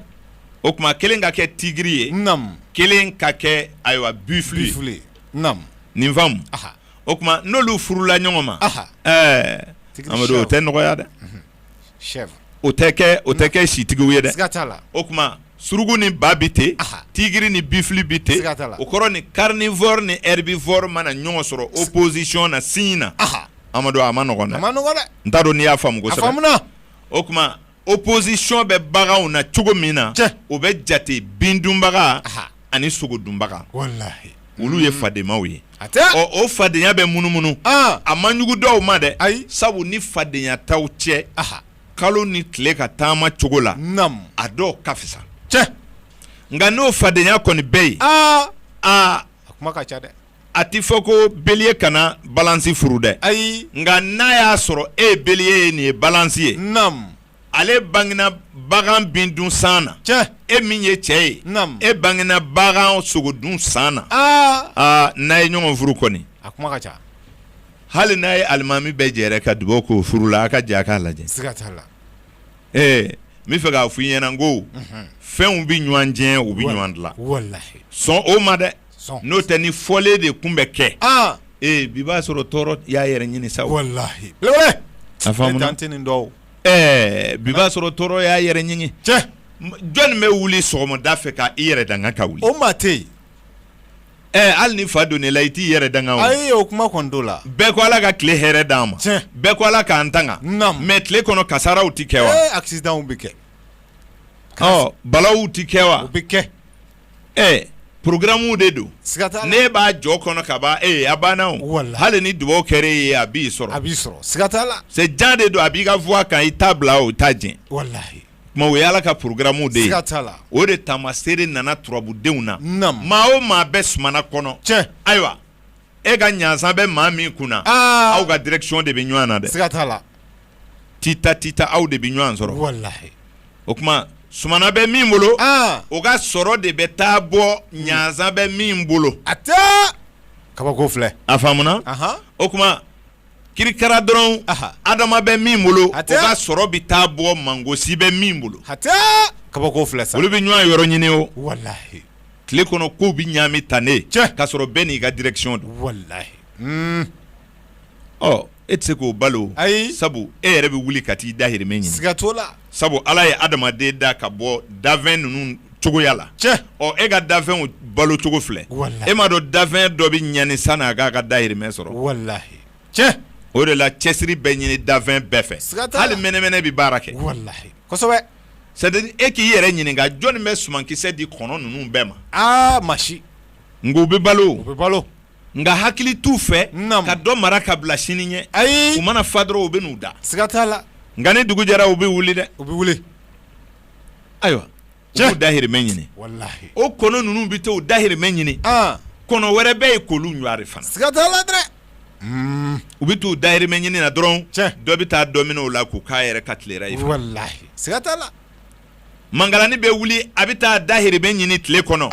o tuma kelen ka kɛ tigiri ye kelen ka kɛ ayiwa buffle nin faamu o tuma n'olu furula ɲɔgɔn ma amadu o tɛ nɔgɔya dɛ o tɛ kɛ o tɛ kɛ sitigiw ye dɛ o tuma suruku ni ba bɛ ten tigiri ni buffle bɛ ten o kɔrɔ ni carnivore ni herbivore mana ɲɔgɔn sɔrɔ opposition na signe na amadu a man nɔgɔn n t'a dɔn n'i y'a faamu o tuma opposition bɛ baganw na cogo min na o bɛ jate bin dunbaga ani sogo dunbaga olu ye fadenmaw ye ɔ o fadenya bɛ munumunu a man jugu dɔw ma dɛ ayi sabu ni fadenya t'aw cɛ kalo ni tile ka taama cogo la a dɔw ka fisa tiɲɛ nka n'o fadenya kɔni bɛ yen aa a kuma ka ca dɛ a tɛ fɔ ko bélier kana balance furu dɛ ayi nka n'a y'a sɔrɔ e ye bélier ye nin ye balance ye naamu ale bangena bagan bin dun san na tiɲɛ e min ye cɛ ye naamu e bangena bagan sogo dun san na aa aa n'a ye ɲɔgɔn furu kɔni a kuma ka ca hali n'a ye alimami bɛɛ jɛrɛ ka dugawu k'o furu la a ka jɛ a k'a lajɛ siga t'a la ee n bɛ fɛ k'a fɔ i ɲɛna n ko fɛnw bɛ ɲɔgɔn tiɲɛ u bɛ ɲɔgɔn dilan walahi sɔn o ma dɛ n'o tɛ ni fɔlen de kun bɛ kɛ bi b'a sɔrɔ tɔɔrɔ y'a yɛrɛ ɲini sa walahi bi b'a sɔrɔ tɔɔrɔ y'a yɛrɛ ɲini jɔnni bɛ wuli sɔgɔmada fɛ k' i yɛrɛ danga ka wuli o maa tɛ yen hali ni fa donna e la i t'i yɛrɛ danga o kuma la bɛɛ ko ala ka tile hɛrɛ d' an ma bɛɛ ko ala k'an tanga mais tile kɔnɔ kasaraw tɛ kɛ wa a bɛ kɛ balaw tɛ kɛ wa bɛ kɛ ɛ programmes de don, siga t'a la, n'e b'a jɔ kɔnɔ ka ban ee a banna o, walahi, hali ni dugawu kɛra e ye a b'i sɔrɔ, a b'i sɔrɔ, siga t'a la, c'est jan de don a b'i ka voie kan i t'a bila o t'a jɛn, walahi, tuma o ye Ala ka programmes de ye, siga t'a la, o de taamaseere nana turabudenw na, naamu, maa o maa bɛ sumana kɔnɔ, tiɲɛ, ayiwa e ka ɲansan bɛ maa min kunna, aa, aw ka direction de bɛ ɲɔgɔn na dɛ, siga t'a la. tita tita aw de bɛ ɲɔgɔn sɔrɔ walahi o tuma sumana bɛ min bolo o ka sɔrɔ de bɛ taa bɔ ɲansan bɛ min bolo a tɛ kabako filɛ a faamuna o tuma kirikara dɔrɔn adama bɛ min bolo o ka sɔrɔ bɛ taa bɔ mangosi bɛ min bolo a tɛ kabako filɛ sa olu bɛ ɲɔgɔn yɔrɔ ɲini o walahi tile kɔnɔ kow bɛ ɲami tan ne tiɲɛ ka sɔrɔ bɛɛ n'i ka direction don walahi e tɛ se k'o balo ayi sabu e yɛrɛ bɛ wuli ka t'i dahirimɛ ɲini siga t'o la sabu ala ye adamaden da ka bɔ dafɛn ninnu cogoya la tiɲɛ e ka dafɛnw balo cogo filɛ e m'a dɔn dafɛn dɔ bɛ ɲani sanni a k'a ka dahirimɛ sɔrɔ walahi tiɲɛ o de la cɛsiri bɛ ɲini dafɛn bɛɛ fɛ hali mɛnɛmɛnɛ bɛ baara kɛ e k'i yɛrɛ ɲininka jɔnni bɛ sumankisɛ di kɔnɔ ninnu bɛɛ ma masa nka u bɛ balo u bɛ balo nka hakili t'u fɛ ka dɔ mara ka bila sini ɲɛ ayi u mana fa dɔrɔn u bɛ n'u da siga t'a la nka ni dugu jɛra u bɛ wuli dɛ u bɛ wuli ayiwa u b'u dahirimɛ ɲini o kɔnɔ ninnu bɛ to u dahirimɛ ɲini kɔnɔ wɛrɛ bɛ yen k'olu ɲɔari fana siga t'a la dɛ hmm. u bɛ t'u dahirimɛ ɲini na dɔrɔn dɔ bɛ taa dɔ minɛ u la k'u k'a yɛrɛ ka tilera ye siga t'a la mangalani bɛ wuli a bɛ taa dahirimɛ ɲini tile kɔnɔ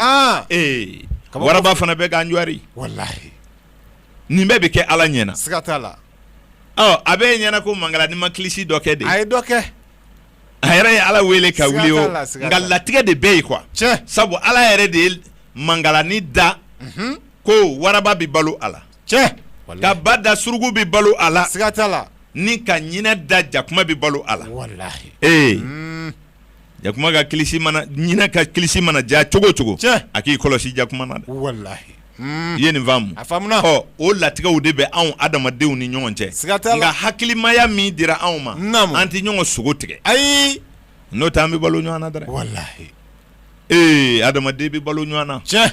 ee waraba fana bɛ k'a ɲɔari walahi nin bɛɛ bɛ kɛ ala ɲɛana siga t'a la a bɛ e ɲɛna ko mangalani ma kilisi dɔ kɛ de a ye dɔ kɛ a yɛrɛ ye ala wele ka wuli o nka latigɛ de bɛ yen quoi sabu ala yɛrɛ de ye mangalani da ko waraba bɛ balo a la tiɲɛ ka ba da surugu bɛ balo a la siga t'a la ni ka ɲinɛ da jakuma bɛ balo a la walahi ee hmm. jakuma ka kilisi mana ɲinɛ ka kilisi mana ja cogo cogo tiɲɛ a k'i kɔlɔsi jakuma na dɛ walahi hmm. i ye nin faamu a faamuna ɔ o latigɛw de bɛ anw adamadenw ni ɲɔgɔn cɛ siga t'a la nka hakilimaya min dira anw ma naamu an tɛ ɲɔgɔn sogo tigɛ ayi n'o tɛ an bɛ balo ɲɔgɔn na dɛ walahi ee adamaden bɛ balo ɲɔgɔn na tiɲɛ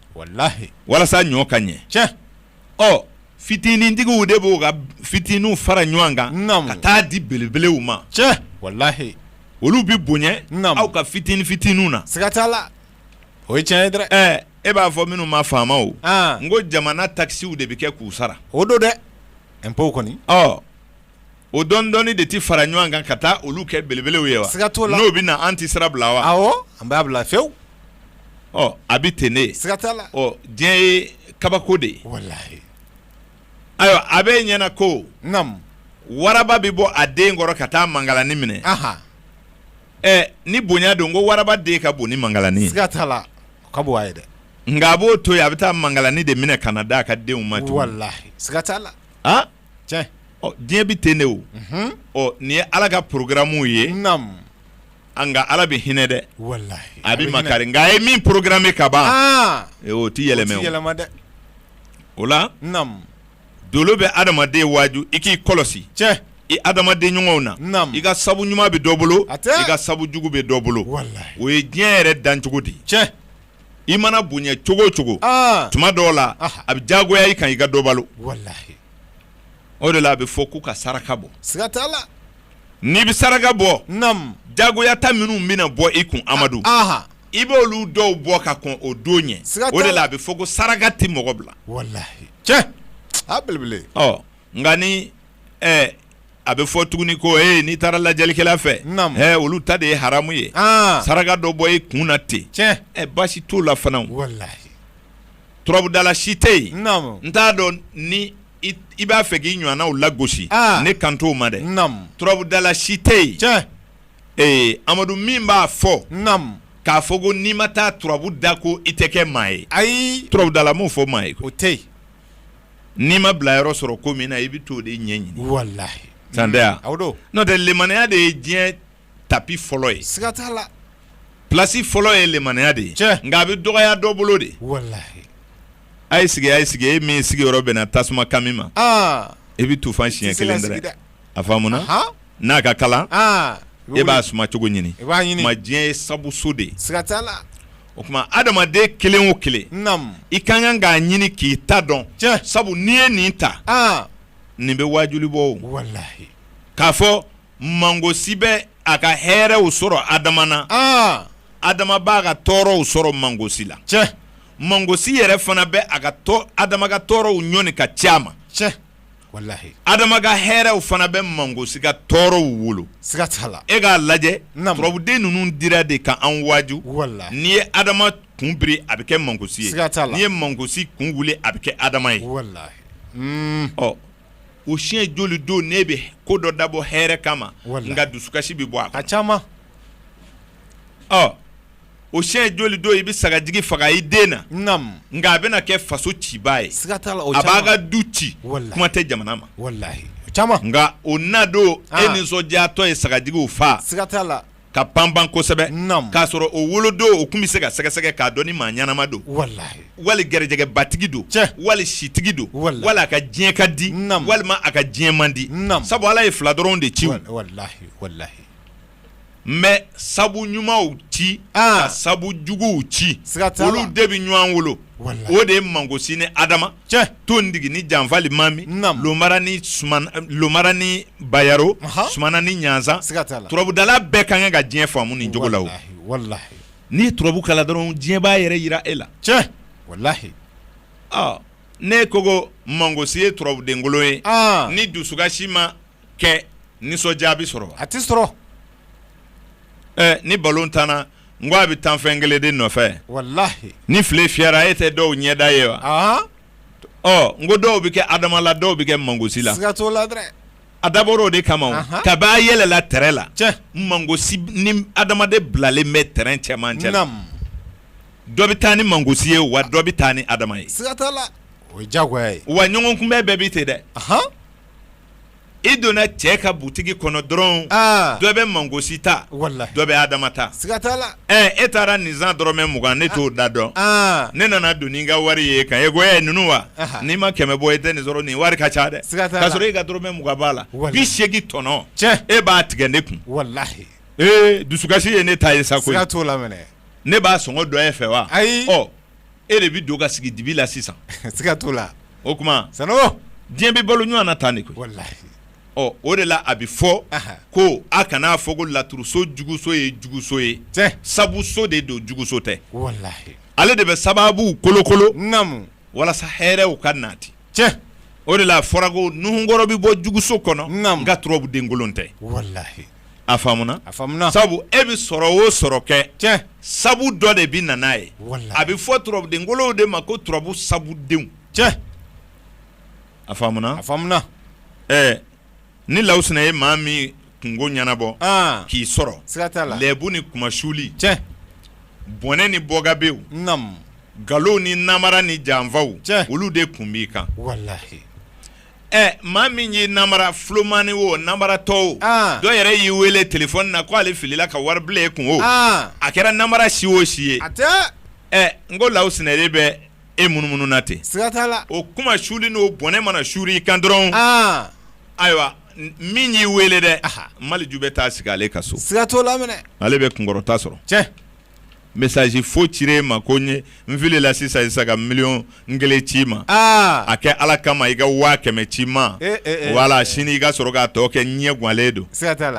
walasa ɲɔ ka ɲɛ ɔ fitinintigiw de b'u ka fitininw fara ɲɔgɔn kan ka taa di belebelew ma olu bɛ bonya aw ka fitinin fitininw na siga t'a la o ye tiɲɛ ye dɛ e b'a fɔ minnu ma faamaw n ko jamana takisiw de bɛ kɛ k'u sara o don dɛ impôt kɔni o dɔɔni dɔɔni de tɛ fara ɲɔgɔn kan ka taa olu kɛ belebelew ye wa siga t'o la n'o bɛ na an tɛ sira bila wa awɔ an b'a bila fewu ɔ a bɛ ten de siga t'a la ɔ diɲɛ ye kabako de ye walahi ayiwa a bɛ ɲɛna ko naamu waraba bɛ bɔ a den kɔrɔ ka taa mangalani minɛ aha ɛ ni bonya don ko waraba den ka bon ni mangalani ye siga t'a la o ka bon a ye dɛ nka a b'o to yen a bɛ taa mangalani de minɛ ka na d'a ka denw ma tugun walahi siga t'a la ah diɲɛ bɛ ten de o nin ye ala ka porogaramu ye nka ala bɛ hinɛ dɛ a bɛ makari nka a ye min porogaramu ka ban o tɛ yɛlɛma dɛ o la dolo bɛ adamaden waaju i k'i kɔlɔsi cɛ i adamaden ɲɔgɔnw na i ka sabu ɲuman bɛ dɔ bolo i ka sabu jugu bɛ dɔ bolo o ye diɲɛ yɛrɛ dan cogo di cɛ i mana bonya cogo o cogo tuma dɔw la a bɛ jagoya i kan i ka dɔ balo o de la a bɛ fɔ k'u ka saraka bɔ siga t'a la n'i bɛ saraka bɔ jagoya ta minnu bɛna bɔ i kun amadu i bɛ olu dɔw bɔ ka kɔn o don ɲɛ o de la a bɛ fɔ ko saraka tɛ mɔgɔ bila cɛ a belebele nka ni a bɛ fɔ tuguni ko e n'i taara lajɛlikɛla fɛ olu ta de ye haramu ye saraka dɔ bɔ i kun na ten ɛ baasi t'o la fana walahi turabudala si tɛ yen n t'a dɔn ni i b'a fɛ k'i ɲɔgɔnnaw lagosi ne kan t'o ma dɛ turabudala si tɛ yen ee amadu min b'a fɔ k'a fɔ ko n'i ma taa turabu da ko i tɛ kɛ maa ye ayi turabudala m'o fɔ maa ye o tɛ yen n'i ma bila yɔrɔ sɔrɔ ko min na i bɛ t'o de ɲɛɲini walahi tan tɛ o don n'o tɛ limmaniya de ye diɲɛ tapi fɔlɔ ye siga t'a la plasi fɔlɔ ye limmaniya de ye nka a bɛ dɔgɔya dɔ bolo de walahi a ye sigi a ye sigi e min sigiyɔrɔ bɛnna tasuma kami ma i bɛ tufan siɲɛ kelen dɛrɛ a faamuna n'a ka kalan e b'a suma cogo ɲini ma diɲɛ ye sabuso de o tuma adamaden kelen o kelen i ka kan k'a ɲini k'i ta dɔn sabu n'i ye nin ta nin bɛ waajuli bɔ walahi k'a fɔ mangosi bɛ a ka hɛrɛw sɔrɔ adama na adama b'a ka tɔɔrɔw sɔrɔ mangosi la mangosi yɛrɛ fana bɛ a ka adama ka tɔɔrɔw ɲɔni ka c'a ma adama ka hɛrɛw fana bɛ mangosi ka tɔɔrɔw wolo siga t'a la e k'a lajɛ turabuden ninnu dira de ka an waaju walahi n'i ye adama kun biri a bɛ kɛ mangosi ye n'i ye mangosi kun wuli a bɛ kɛ adama ye ɔ o siɲɛ joli don ne bɛ ko dɔ dabɔ hɛrɛ kama nka dusukasi bɛ bɔ a ka ca ɔ o siɲɛ joli don i bɛ sagajigi faga i den na naamu nka a bɛna kɛ faso cibaa ye siga t'a la o a b'a ka du ci walahi kuma tɛ jamana ma walahi o caman nka o na don e nisɔndiyatɔ ye sagajigiw faa siga t'a la ka panpan kosɛbɛ naamu k'a sɔrɔ o wolodon o tun bɛ se ka sɛgɛsɛgɛ k'a dɔn ni maa ɲɛnama don walahi wali garijɛgɛbatigi don cɛ wali sitigi don walahi wali a ka diɲɛ ka di naamu walima a ka diɲɛ man di naamu sabu Ala ye fila dɔrɔn de ci walahi walahi n bɛ sabu ɲumanw ci ka sabu juguw ci siga t'a la olu de bɛ ɲɔgɔn wolo walahi o de ye mangosi ni Adama cɛ Tondigi ni Janfali Mami namu Lomara ni Bayaro anhan Sumana ni Ɲanzan siga t'a la turabudala bɛɛ ka kan ka diɲɛ faamu nin cogo la o walahi walahi n'i ye turabu kalan dɔrɔn diɲɛ b'a yɛrɛ jira e la cɛ walahi ɔ ne ko ko mangosi ye turabudenkolon ye an ni dusukasi ma kɛ nisɔndiya bɛ sɔrɔ a tɛ sɔrɔ ni balɔn tanna n ko a bɛ tan fɛn kelen de nɔfɛ ni file fiyɛra e tɛ dɔw ɲɛda ye wa ɔ n ko dɔw bɛ kɛ adama la dɔw bɛ kɛ mangosi la a dabɔra o de kama kab'a yɛlɛla tɛrɛn la mangosi ni adama de bilalen bɛ tɛrɛn cɛmancɛ la dɔ bɛ taa ni mangosi ye wa dɔ bɛ taa ni adama ye o ye diyagoya ye wa ɲɔgɔn kunbɛn bɛɛ bɛ ten dɛ i donna cɛ ka butigi kɔnɔ dɔrɔn dɔ bɛ mangosi ta dɔ bɛ adama ta e taara nin san dɔrɔmɛ mugan ne t'o da dɔn ne nana don ni n ka wari ye kan e ko ninnu wa n'i ma kɛmɛ bɔ e tɛ nin sɔrɔ nin wari ka ca dɛ k'a sɔrɔ e ka dɔrɔmɛ mugan b'a la bi segin tɔnɔ e b'a tigɛ ne kun dusukasi ye ne ta ye sa koyi ne b'a sɔngɔ dɔn e fɛ wa ayi e de bɛ don ka sigi dibi la sisan siga t'o la o tuma sa diɲɛ bɛ balo ɲɔgɔn na tan de koyi ɔ o de la a bɛ fɔ ko a kana n'a fɔ ko laturuso juguso ye juguso ye sabuso de don juguso tɛ ale de bɛ sababu kolokolo namu walasa hɛrɛw ka nati cɛ o de la fɔra ko nuhunkɔrɔ bɛ bɔ juguso kɔnɔ nka turabu denkolon tɛ a faamuna sabu e bɛ sɔrɔ o sɔrɔ kɛ cɛ sabu dɔ de bɛ na n'a ye a bɛ fɔ turabudenkolonw de ma ko turabu sabudenw cɛ a faamuna ɛɛ ni lawusina ye maa min kungo ɲɛnabɔ k'i sɔrɔ siga t'a la lɛbu ni kunmasuli cɛ bɔnɛ ni bɔgabew nkalon ni namara ni janfaw cɛ olu de tun b'i kan Ɛ maa min y'i namara fulomani o namara tɔw dɔ yɛrɛ y'i wele telefɔni na k' ale filila ka wari bila e kun o a kɛra namara si o si ye ɛ n ko lawusina de bɛ e munumunu na ten o kunmasuli n'o bɔnɛ mana suuru i kan dɔrɔn ayiwa min y'i weele dɛ maliju bɛ taa sigi ale ka so siga t'a la ale bɛ kunkɔrɔta sɔrɔ message faux cir'e ma ko n filila sisan sisan ka million kelen c'i ma ah! a kɛ ala kama i ka waa kɛmɛ ci ma eh, eh, eh, wala sini i ka sɔrɔ k'a tɔ kɛ ɲɛ ganlen don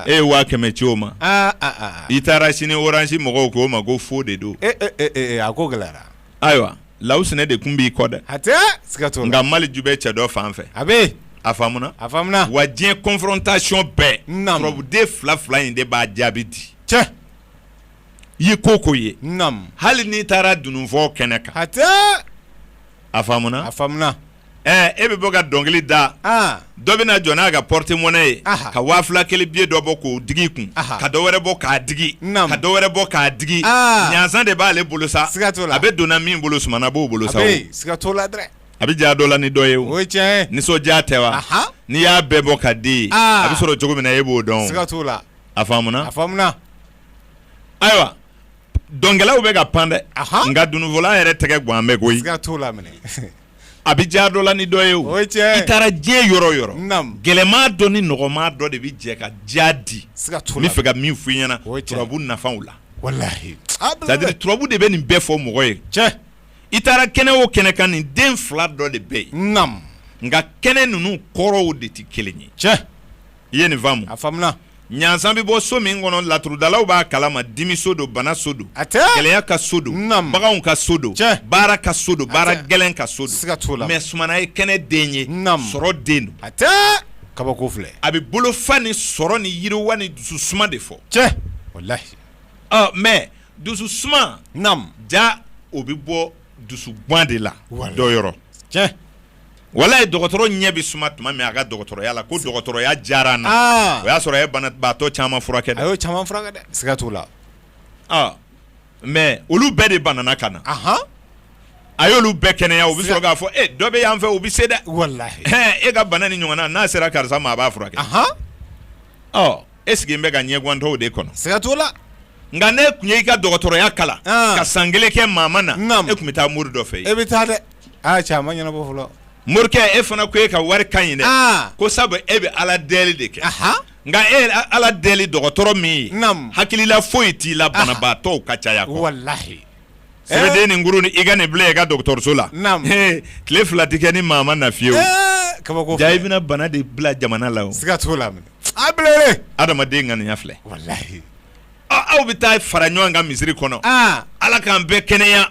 e ye waa kɛmɛ ci o ma ah, ah, i taara sini orange mɔgɔw k'o ma ko faux de don a ko gɛlɛyara ayiwa lawusinɛ de kun b'i kɔ dɛ hatɛ nka maleju bɛ cɛ dɔ fan fɛ a bɛ a faamuna a faamuna wa diɲɛ confrontation bɛɛ turabu den fila fila in de b'a jaabi di cɛ ye ko ko ye hali n'i taara dununfɔ kɛnɛ kan hatɛ a faamuna a faamuna ɛ e bɛ bɔ ka dɔnkili da dɔ bɛna jɔ n'a ka porte-monnaie ye ka waa fila kelen billet dɔ bɔ k'o digi kun ka dɔ wɛrɛ bɔ k'a digi ka dɔ wɛrɛ bɔ k'a digi ɲansan de b'ale bolo sa siga t'o la a bɛ donna min bolo sumana b'o bolo sa siga t'o la dɛ a bɛ diya dɔ la ni dɔ ye o cɛ nisɔndiya tɛ wa n'i y'a bɛɛ bɔ ka di a bɛ sɔrɔ cogo min na e b'o dɔn la a a ayiwa dɔnkɛlaw bɛ ka pan dɛ nka dununfɔla yɛrɛ tɛgɛ gan bɛ koyi a bɛ diya dɔ la ni dɔ ye o i taara diɲɛ yɔrɔ o yɔrɔ gɛlɛman dɔ ni nɔgɔman dɔ de bɛ jɛ ka diya di n bɛ fɛ ka min f'i ɲɛna turabu nafaw la c'est-à-dire turabu de bɛ nin bɛɛ fɔ mɔgɔ ye cɛ i taara kɛnɛ o kɛnɛ kan nin den fila dɔ de bɛ yen nka kɛnɛ ninnu kɔrɔw de tɛ kelen ye cɛ i ye nin faamu a faamuna ɲansan bɛ bɔ so min kɔnɔ laturudalaw b'a kalama dimi so don bana so don hatɛ gɛlɛya ka so don Naam. baganw ka so don Cɛ. baara ka so don baara hatɛ. gɛlɛn ka so Siga t'o la. don mais sumana ye kɛnɛ den ye Naam. sɔrɔ den don hatɛ kabako filɛ a bɛ bolofa ni sɔrɔ ni yiriwa ni dusu suma de fɔ cɛ walahi ɔ mais dusu suma naam ja o bɛ bɔ dusu gan de la Wala. dɔ yɔrɔ cɛ walahi dɔgɔtɔrɔ ɲɛ bɛ suma tuma min a ka dɔgɔtɔrɔya la ko dɔgɔtɔrɔya diyara n na ah. o y'a sɔrɔ a ye banabaatɔ caman furakɛ dɛ a y'o caman furakɛ dɛ siga t'o la ah. mais olu bɛɛ de banana ka na a y'olu bɛɛ kɛnɛya u bɛ sɔrɔ k'a fɔ e dɔ bɛ yan fɛ u bɛ se dɛ e ka bana nin ɲɔgɔnna n'a sera karisa ma a b'a furakɛ e sigi bɛ ka ɲɛgwantɔw de kɔnɔ siga t'o la nka n'e tun y'i ka dɔgɔtɔrɔya kalan ka san kelen kɛ maa ma na e tun bɛ taa mori dɔ fɛ e bɛ taa dɛ ɲɛnabɔ fɔlɔ morikɛ e fana ko e ka wari ka ɲi dɛ ko sabu e bɛ ala deli de kɛ nka e ala deli dɔgɔtɔrɔ min ye hakilila foyi t'i la banabaatɔw ka caya walahi sɛbɛnden nin kuru ni i ka nin bila i ka dɔgɔtɔrɔso la tile fila tɛ kɛ ni maa ma na fiyewu kabako i bɛna bana de bila jamana la o siga t'o la A bɛ adamaden ŋaniya filɛ aw bɛ taa fara ɲɔgɔn kan misiri kɔnɔ ala k'an bɛɛ kɛnɛya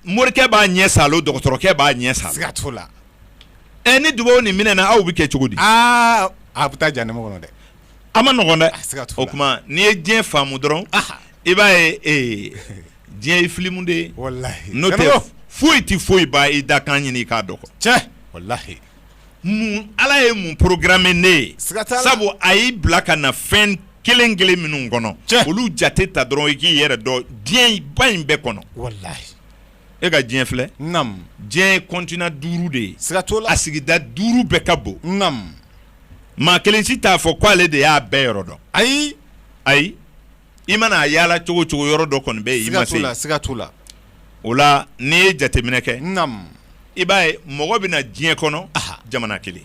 morikɛ b'a ɲɛ saalo dɔgɔtɔrɔkɛ b'a ɲɛ saalo siga t'o la ɛ ni dugawu nin minɛna aw bɛ kɛ cogo di aaa a bɛ taa jan ne kɔnɔ dɛ a ma nɔgɔ o tuma n'i ye diɲɛ faamu dɔrɔn i b'a ye ee diɲɛ ye filimu de ye n'o tɛ foyi tɛ foyi ba i dakan ɲini i k'a dɔn cɛ walayi ala ye mun programme ne ye sabu a y'i bila ka na fɛn kelen kelen minnu kɔnɔ olu jate ta dɔrɔn i k'i yɛrɛ dɔn diɲɛ ba in bɛɛ kɔnɔ e ka diɲɛ filɛ diɲɛ ye continent duuru de ye a sigida duuru bɛɛ ka bon maa kelen si t'a fɔ k ko ale de y'a bɛɛ yɔrɔ dɔn ayi ayi i mana a yaala cogo cogo yɔrɔ dɔ kɔni bɛ yen i ma se siga t'o la o la n'i ye jateminɛ kɛ i b'a ye mɔgɔ bɛ na diɲɛ kɔnɔ jamana kelen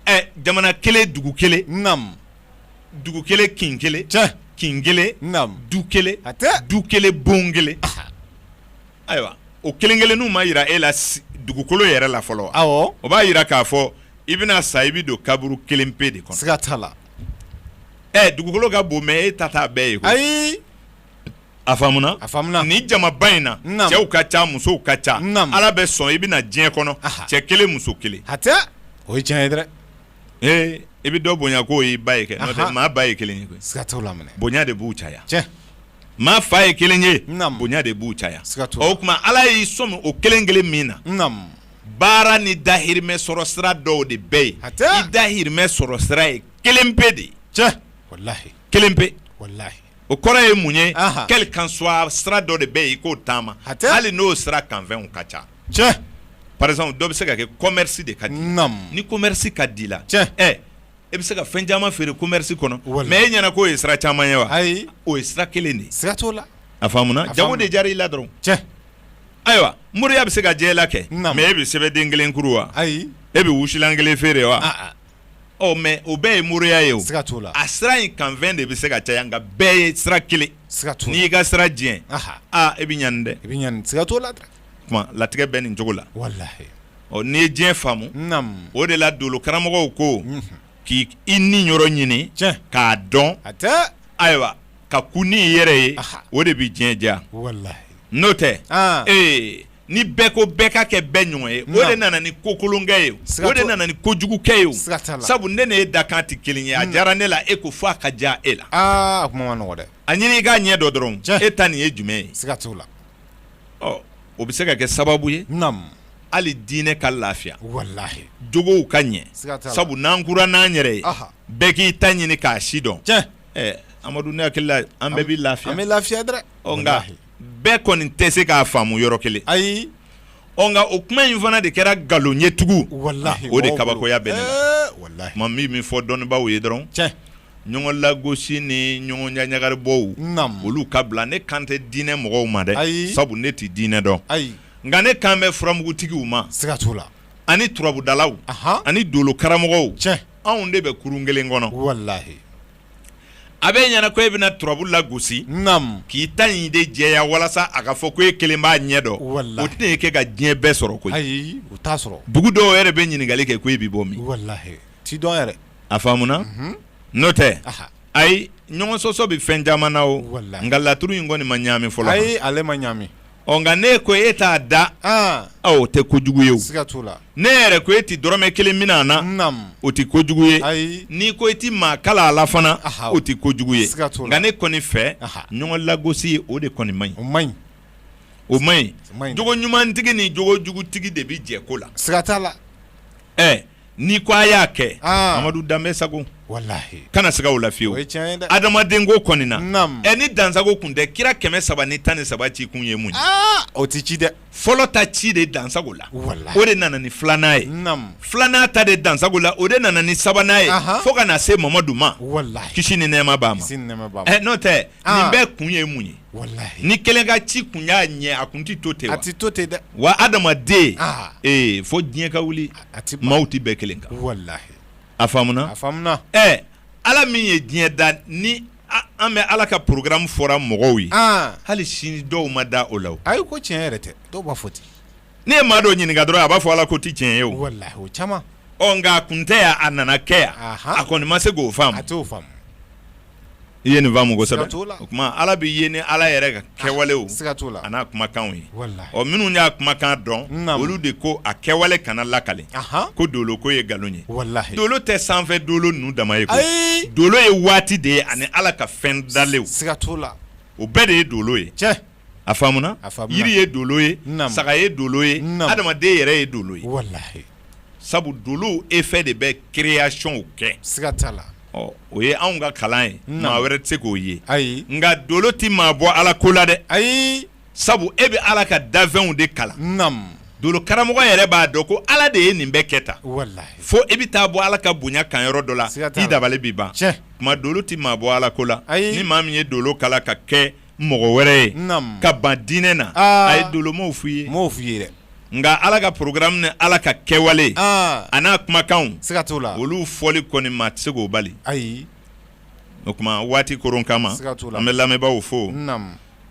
ɛ jamana kelen dugu kelen dugu kelen kin kelen kin kelen du kelen du kelen bon kelen Ayiwa o kelen kelenninw ma yira e la dugukolo yɛrɛ la fɔlɔ wa o b'a yira k'a fɔ i bɛna sa i bɛ don kaburu kelen pe de kɔnɔ siga t'a la ɛ dugukolo ka bon mais e ta t'a bɛɛ ye koyi ayi a faamuna nin jamaba in na cɛw ka ca musow ka ca ala bɛ sɔn i bɛ na diɲɛ kɔnɔ cɛ kelen muso kelen o ye tiɲɛ ye dɛ ee i bɛ dɔ bonya k'o y'i ba ye kɛ n'o tɛ maa ba ye kelen ye bonya de b'u caya maa fa ye kelen ye bonya de b'u caya o tuma ala y'i sɔmi o kelen kelen min na baara ni dahirimɛ sɔrɔ sira dɔw de bɛ yen i dahirimɛ sɔrɔ sira ye kelen pe de walayi kelen pe walayi o kɔrɔ ye mun ye quel qu'en soit sira dɔ de bɛ yen i k'o taama hali n'o sira kanfɛnw ka ca par exemple dɔ bɛ se ka kɛ commerce de ka di ni commerce ka di i la e bɛ se ka fɛn caman feere commerce kɔnɔ mais e ɲɛna k'o ye sira caman ye wa? Ayi, o ye sira kelen de ye, siga t'o la, a faamuna jago de diyara i la dɔrɔn, tiɲɛ, ayiwa moriya bɛ se ka diya i la kɛ mais e bɛ sɛbɛden kelen kuru wa? Ayi, e bɛ wusulan kelen feere wa? Ɔ mais o bɛɛ ye moriya ye o, siga t'o la, a sira in kanfɛn de bɛ se ka caya nka bɛɛ ye sira kelen, siga t'o la, n'i y'i ka sira jɛ, anhan, aa e bɛ ɲani dɛ, i bɛ ɲani, siga t'o la latigɛ bɛ nin cogo la walayi n'i ye diɲɛ faamu o de la dolo karamɔgɔw ko k'i niyɔrɔ ɲini k'a dɔn ayiwa ka ku n'i yɛrɛ ye o de bɛ diɲɛ diya n'o tɛ ee ni bɛɛ ko bɛɛ ka kɛ bɛɛ ɲɔgɔn ye o de nana ni ko kolonkɛ ye o de nana ni ko jugukɛ ye sabu ne n'e dakan tɛ kelen ye a diyara ne la e ko fɔ a ka diya e la a ɲini i k'a ɲɛdɔn dɔrɔn e ta nin ye jumɛn ye la o bɛ se ka kɛ sababu ye hali diinɛ ka lafiya walahi jogow ka ɲɛ sabu n'an kura n'an yɛrɛ ye bɛɛ k'i ta ɲini k'a si dɔn amadu ne hakili la an bɛɛ bɛ lafiya an bɛ lafiya dɛ nka bɛɛ kɔni tɛ se k'a faamu yɔrɔ kelen ayi Ɔ nka o kuma in fana de kɛra nkalon ye tugun, walahi, o de kabakoya bɛ ne na, ee walahi, n ma min min fɔ dɔnnibaaw ye dɔrɔn, tiɲɛ, ɲɔgɔn lagosi ni ɲɔgɔn ɲaɲagaribɔw, naamu, olu ka bila ne kan tɛ diinɛ mɔgɔw ma dɛ, ayi, sabu ne tɛ diinɛ dɔn, ayi, nka ne kan bɛ furamugutigiw ma, siga t'o la, ani turabudalaw, anhan, ani dolokaramɔgɔw, tiɲɛ, anw de bɛ kurun kelen kɔnɔ, walahi a b'e ɲɛ na ko e bɛna turabu lagosi k'i ta in de jɛya walasa a ka fɔ ko e kelen b'a ɲɛ dɔn o tɛna e kɛ ka diɲɛ bɛɛ sɔrɔ koyi ayi o t'a sɔrɔ dugu dɔw yɛrɛ bɛ ɲininkali kɛ ko e bɛ bɔ min walahi t'i dɔn yɛrɛ a faamuna n'o tɛ ayi ɲɔgɔn sɔsɔ bɛ fɛn caman na o nka laturu in kɔni ma ɲaami fɔlɔ ayi ale ma ɲaami ɔ nka ne ko e t'a da o tɛ kojugu ye ne yɛrɛ ko e tɛ dɔrɔmɛ kelen minɛ a na o tɛ kojugu ye n'i ko e tɛ maa kalan a la fana o tɛ kojugu ye nka ne kɔni fɛ ɲɔgɔn lagosi o de kɔni man ɲi o man ɲi jogo ɲumantigi ni jogo jugutigi de bɛ jɛ ko la siga t'o la n'i ko a y'a kɛ ah. amadu danbe sago kana siga o la fiyewu adamaden ko kɔni na ɛ ni dansago kun tɛ kira kɛmɛ saba ni tan ni saba ci kun ye mun ye ah! o tɛ ci dɛ fɔlɔ ta ci de dansago la o de nana ni filanan ye filanan ta de dansago la o de nana ni sabanan ye fo ka na se mamadu ma kisi ni nɛɛma b'a ma ɛ n'o tɛ nin ah. bɛɛ kun ye mun ye ni kelen ka ci kun y'a ɲɛ a kun tɛ to ten a tɛ to ten dɛ wa adamaden fo diɲɛ ka wuli maaw tɛ bɛn kelen kan a faamuna ala min ye diɲɛ da ni an bɛɛ ala ka porogaramu fɔra mɔgɔw ye hali sini dɔw ma da o la ayi ko tiɲɛ yɛrɛ tɛ dɔw b'a fɔ ten n'e ye maa dɔ ɲininka dɔrɔn a b'a fɔ ala ko tɛ tiɲɛ ye o caman ɔ nka a kun tɛ yan a nana kɛ yan a kɔni ma se k'o faamu i ye nin faamu kosɛbɛ o tuma ala bɛ ye ni ala yɛrɛ ka ah, kɛwalew a n'a kumakanw ye ɔ minnu y'a kumakan dɔn olu de ko a kɛwale kana lakali ko dolo ko ye nkalon ye dolo tɛ sanfɛ dolo ninnu dama ye dolo ye waati de ye ani ala ka fɛn dalenw o bɛɛ de ye dolo ye a faamuna yiri ye dolo ye saga ye dolo ye adamaden yɛrɛ ye dolo ye sabu dolow effet de bɛ créationw kɛ siga t'a la o ye anw ka kalan ye maa wɛrɛ tɛ se k'o ye ayi nka dolo tɛ maa bɔ ala ko la dɛ ayi sabu e bɛ ala ka dafɛnw de kalan dolokaramɔgɔ yɛrɛ b'a dɔn ko ala de ye nin bɛɛ kɛ tan fo e bɛ taa bɔ ala ka bonya kan yɔrɔ dɔ la i dabali bɛ ban kuma dolo tɛ maa bɔ ala ko la ayi ni maa min ye dolo kalan ka kɛ mɔgɔ wɛrɛ ye ka ban diinɛ na a ye dolomaw fu ye mɔgɔw fu ye nka ala ka porogaramu ni ala ka kɛwale a n'a kumakanw siga t'o la olu fɔli kɔni maa tɛ se k'o bali ayi o tuma waati koron kama an bɛ lamɛnbaaw fo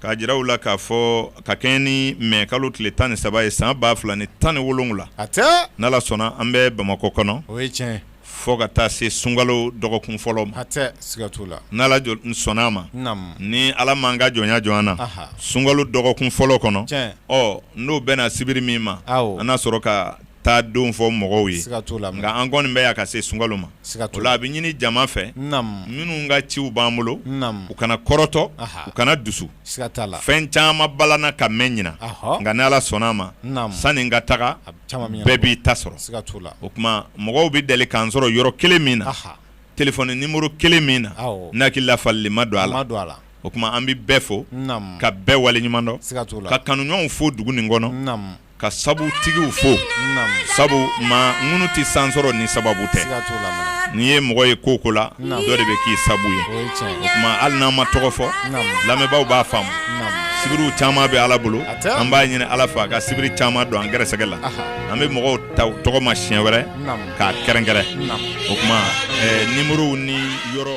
k'a jira u la k'a fɔ ka kɛɲɛ ni mɛ kalo tile tan ni saba ye san ba fila ni tan ni wolowula n'ala sɔnna an bɛ bamakɔ kɔnɔ o ye tiɲɛ fo ka taa se sunkalo dɔgɔkun fɔlɔ ma n'ala sɔnna a ma ni ala m'an ka jɔnya jɔ an na sunkalo dɔgɔkun fɔlɔ kɔnɔ ɔ n'o bɛna sibiri min ma an na sɔrɔ ka taa don fɔ mɔgɔw ye nka an kɔni bɛ yan ka se sunkalo ma o la a bɛ ɲini jama fɛ minnu ka ciw b'an bolo u kana kɔrɔtɔ u kana dusu fɛn caman balana ka mɛn ɲinan nka ni ala sɔnna a ma sanni n ka taga bɛɛ b'i ta sɔrɔ o tuma mɔgɔw bɛ deli k'an sɔrɔ yɔrɔ kelen min na telefɔni nimuru kelen min na n hakili la falenni ma don a la o tuma an bɛ bɛɛ fo ka bɛɛ wale ɲuman dɔn ka kanuɲɔgɔnw fo dugu nin kɔnɔ ka sabu tigiw fo sabu ma ŋunu tɛ san sɔrɔ ni sababu tɛ n'i ye mɔgɔ ye ko ko la dɔ de bɛ k'i sabu ye o tuma hali n'an ma tɔgɔ fɔ lamɛnbaaw b'a faamu sibiriw caman bɛ ala bolo an b'a ɲini ala fɛ a ka sibiri caman don an gɛrɛsɛgɛ la an bɛ mɔgɔw ta tɔgɔ ma siɲɛ wɛrɛ k'a kɛrɛnkɛrɛn o tuma nimuruw ni yɔrɔ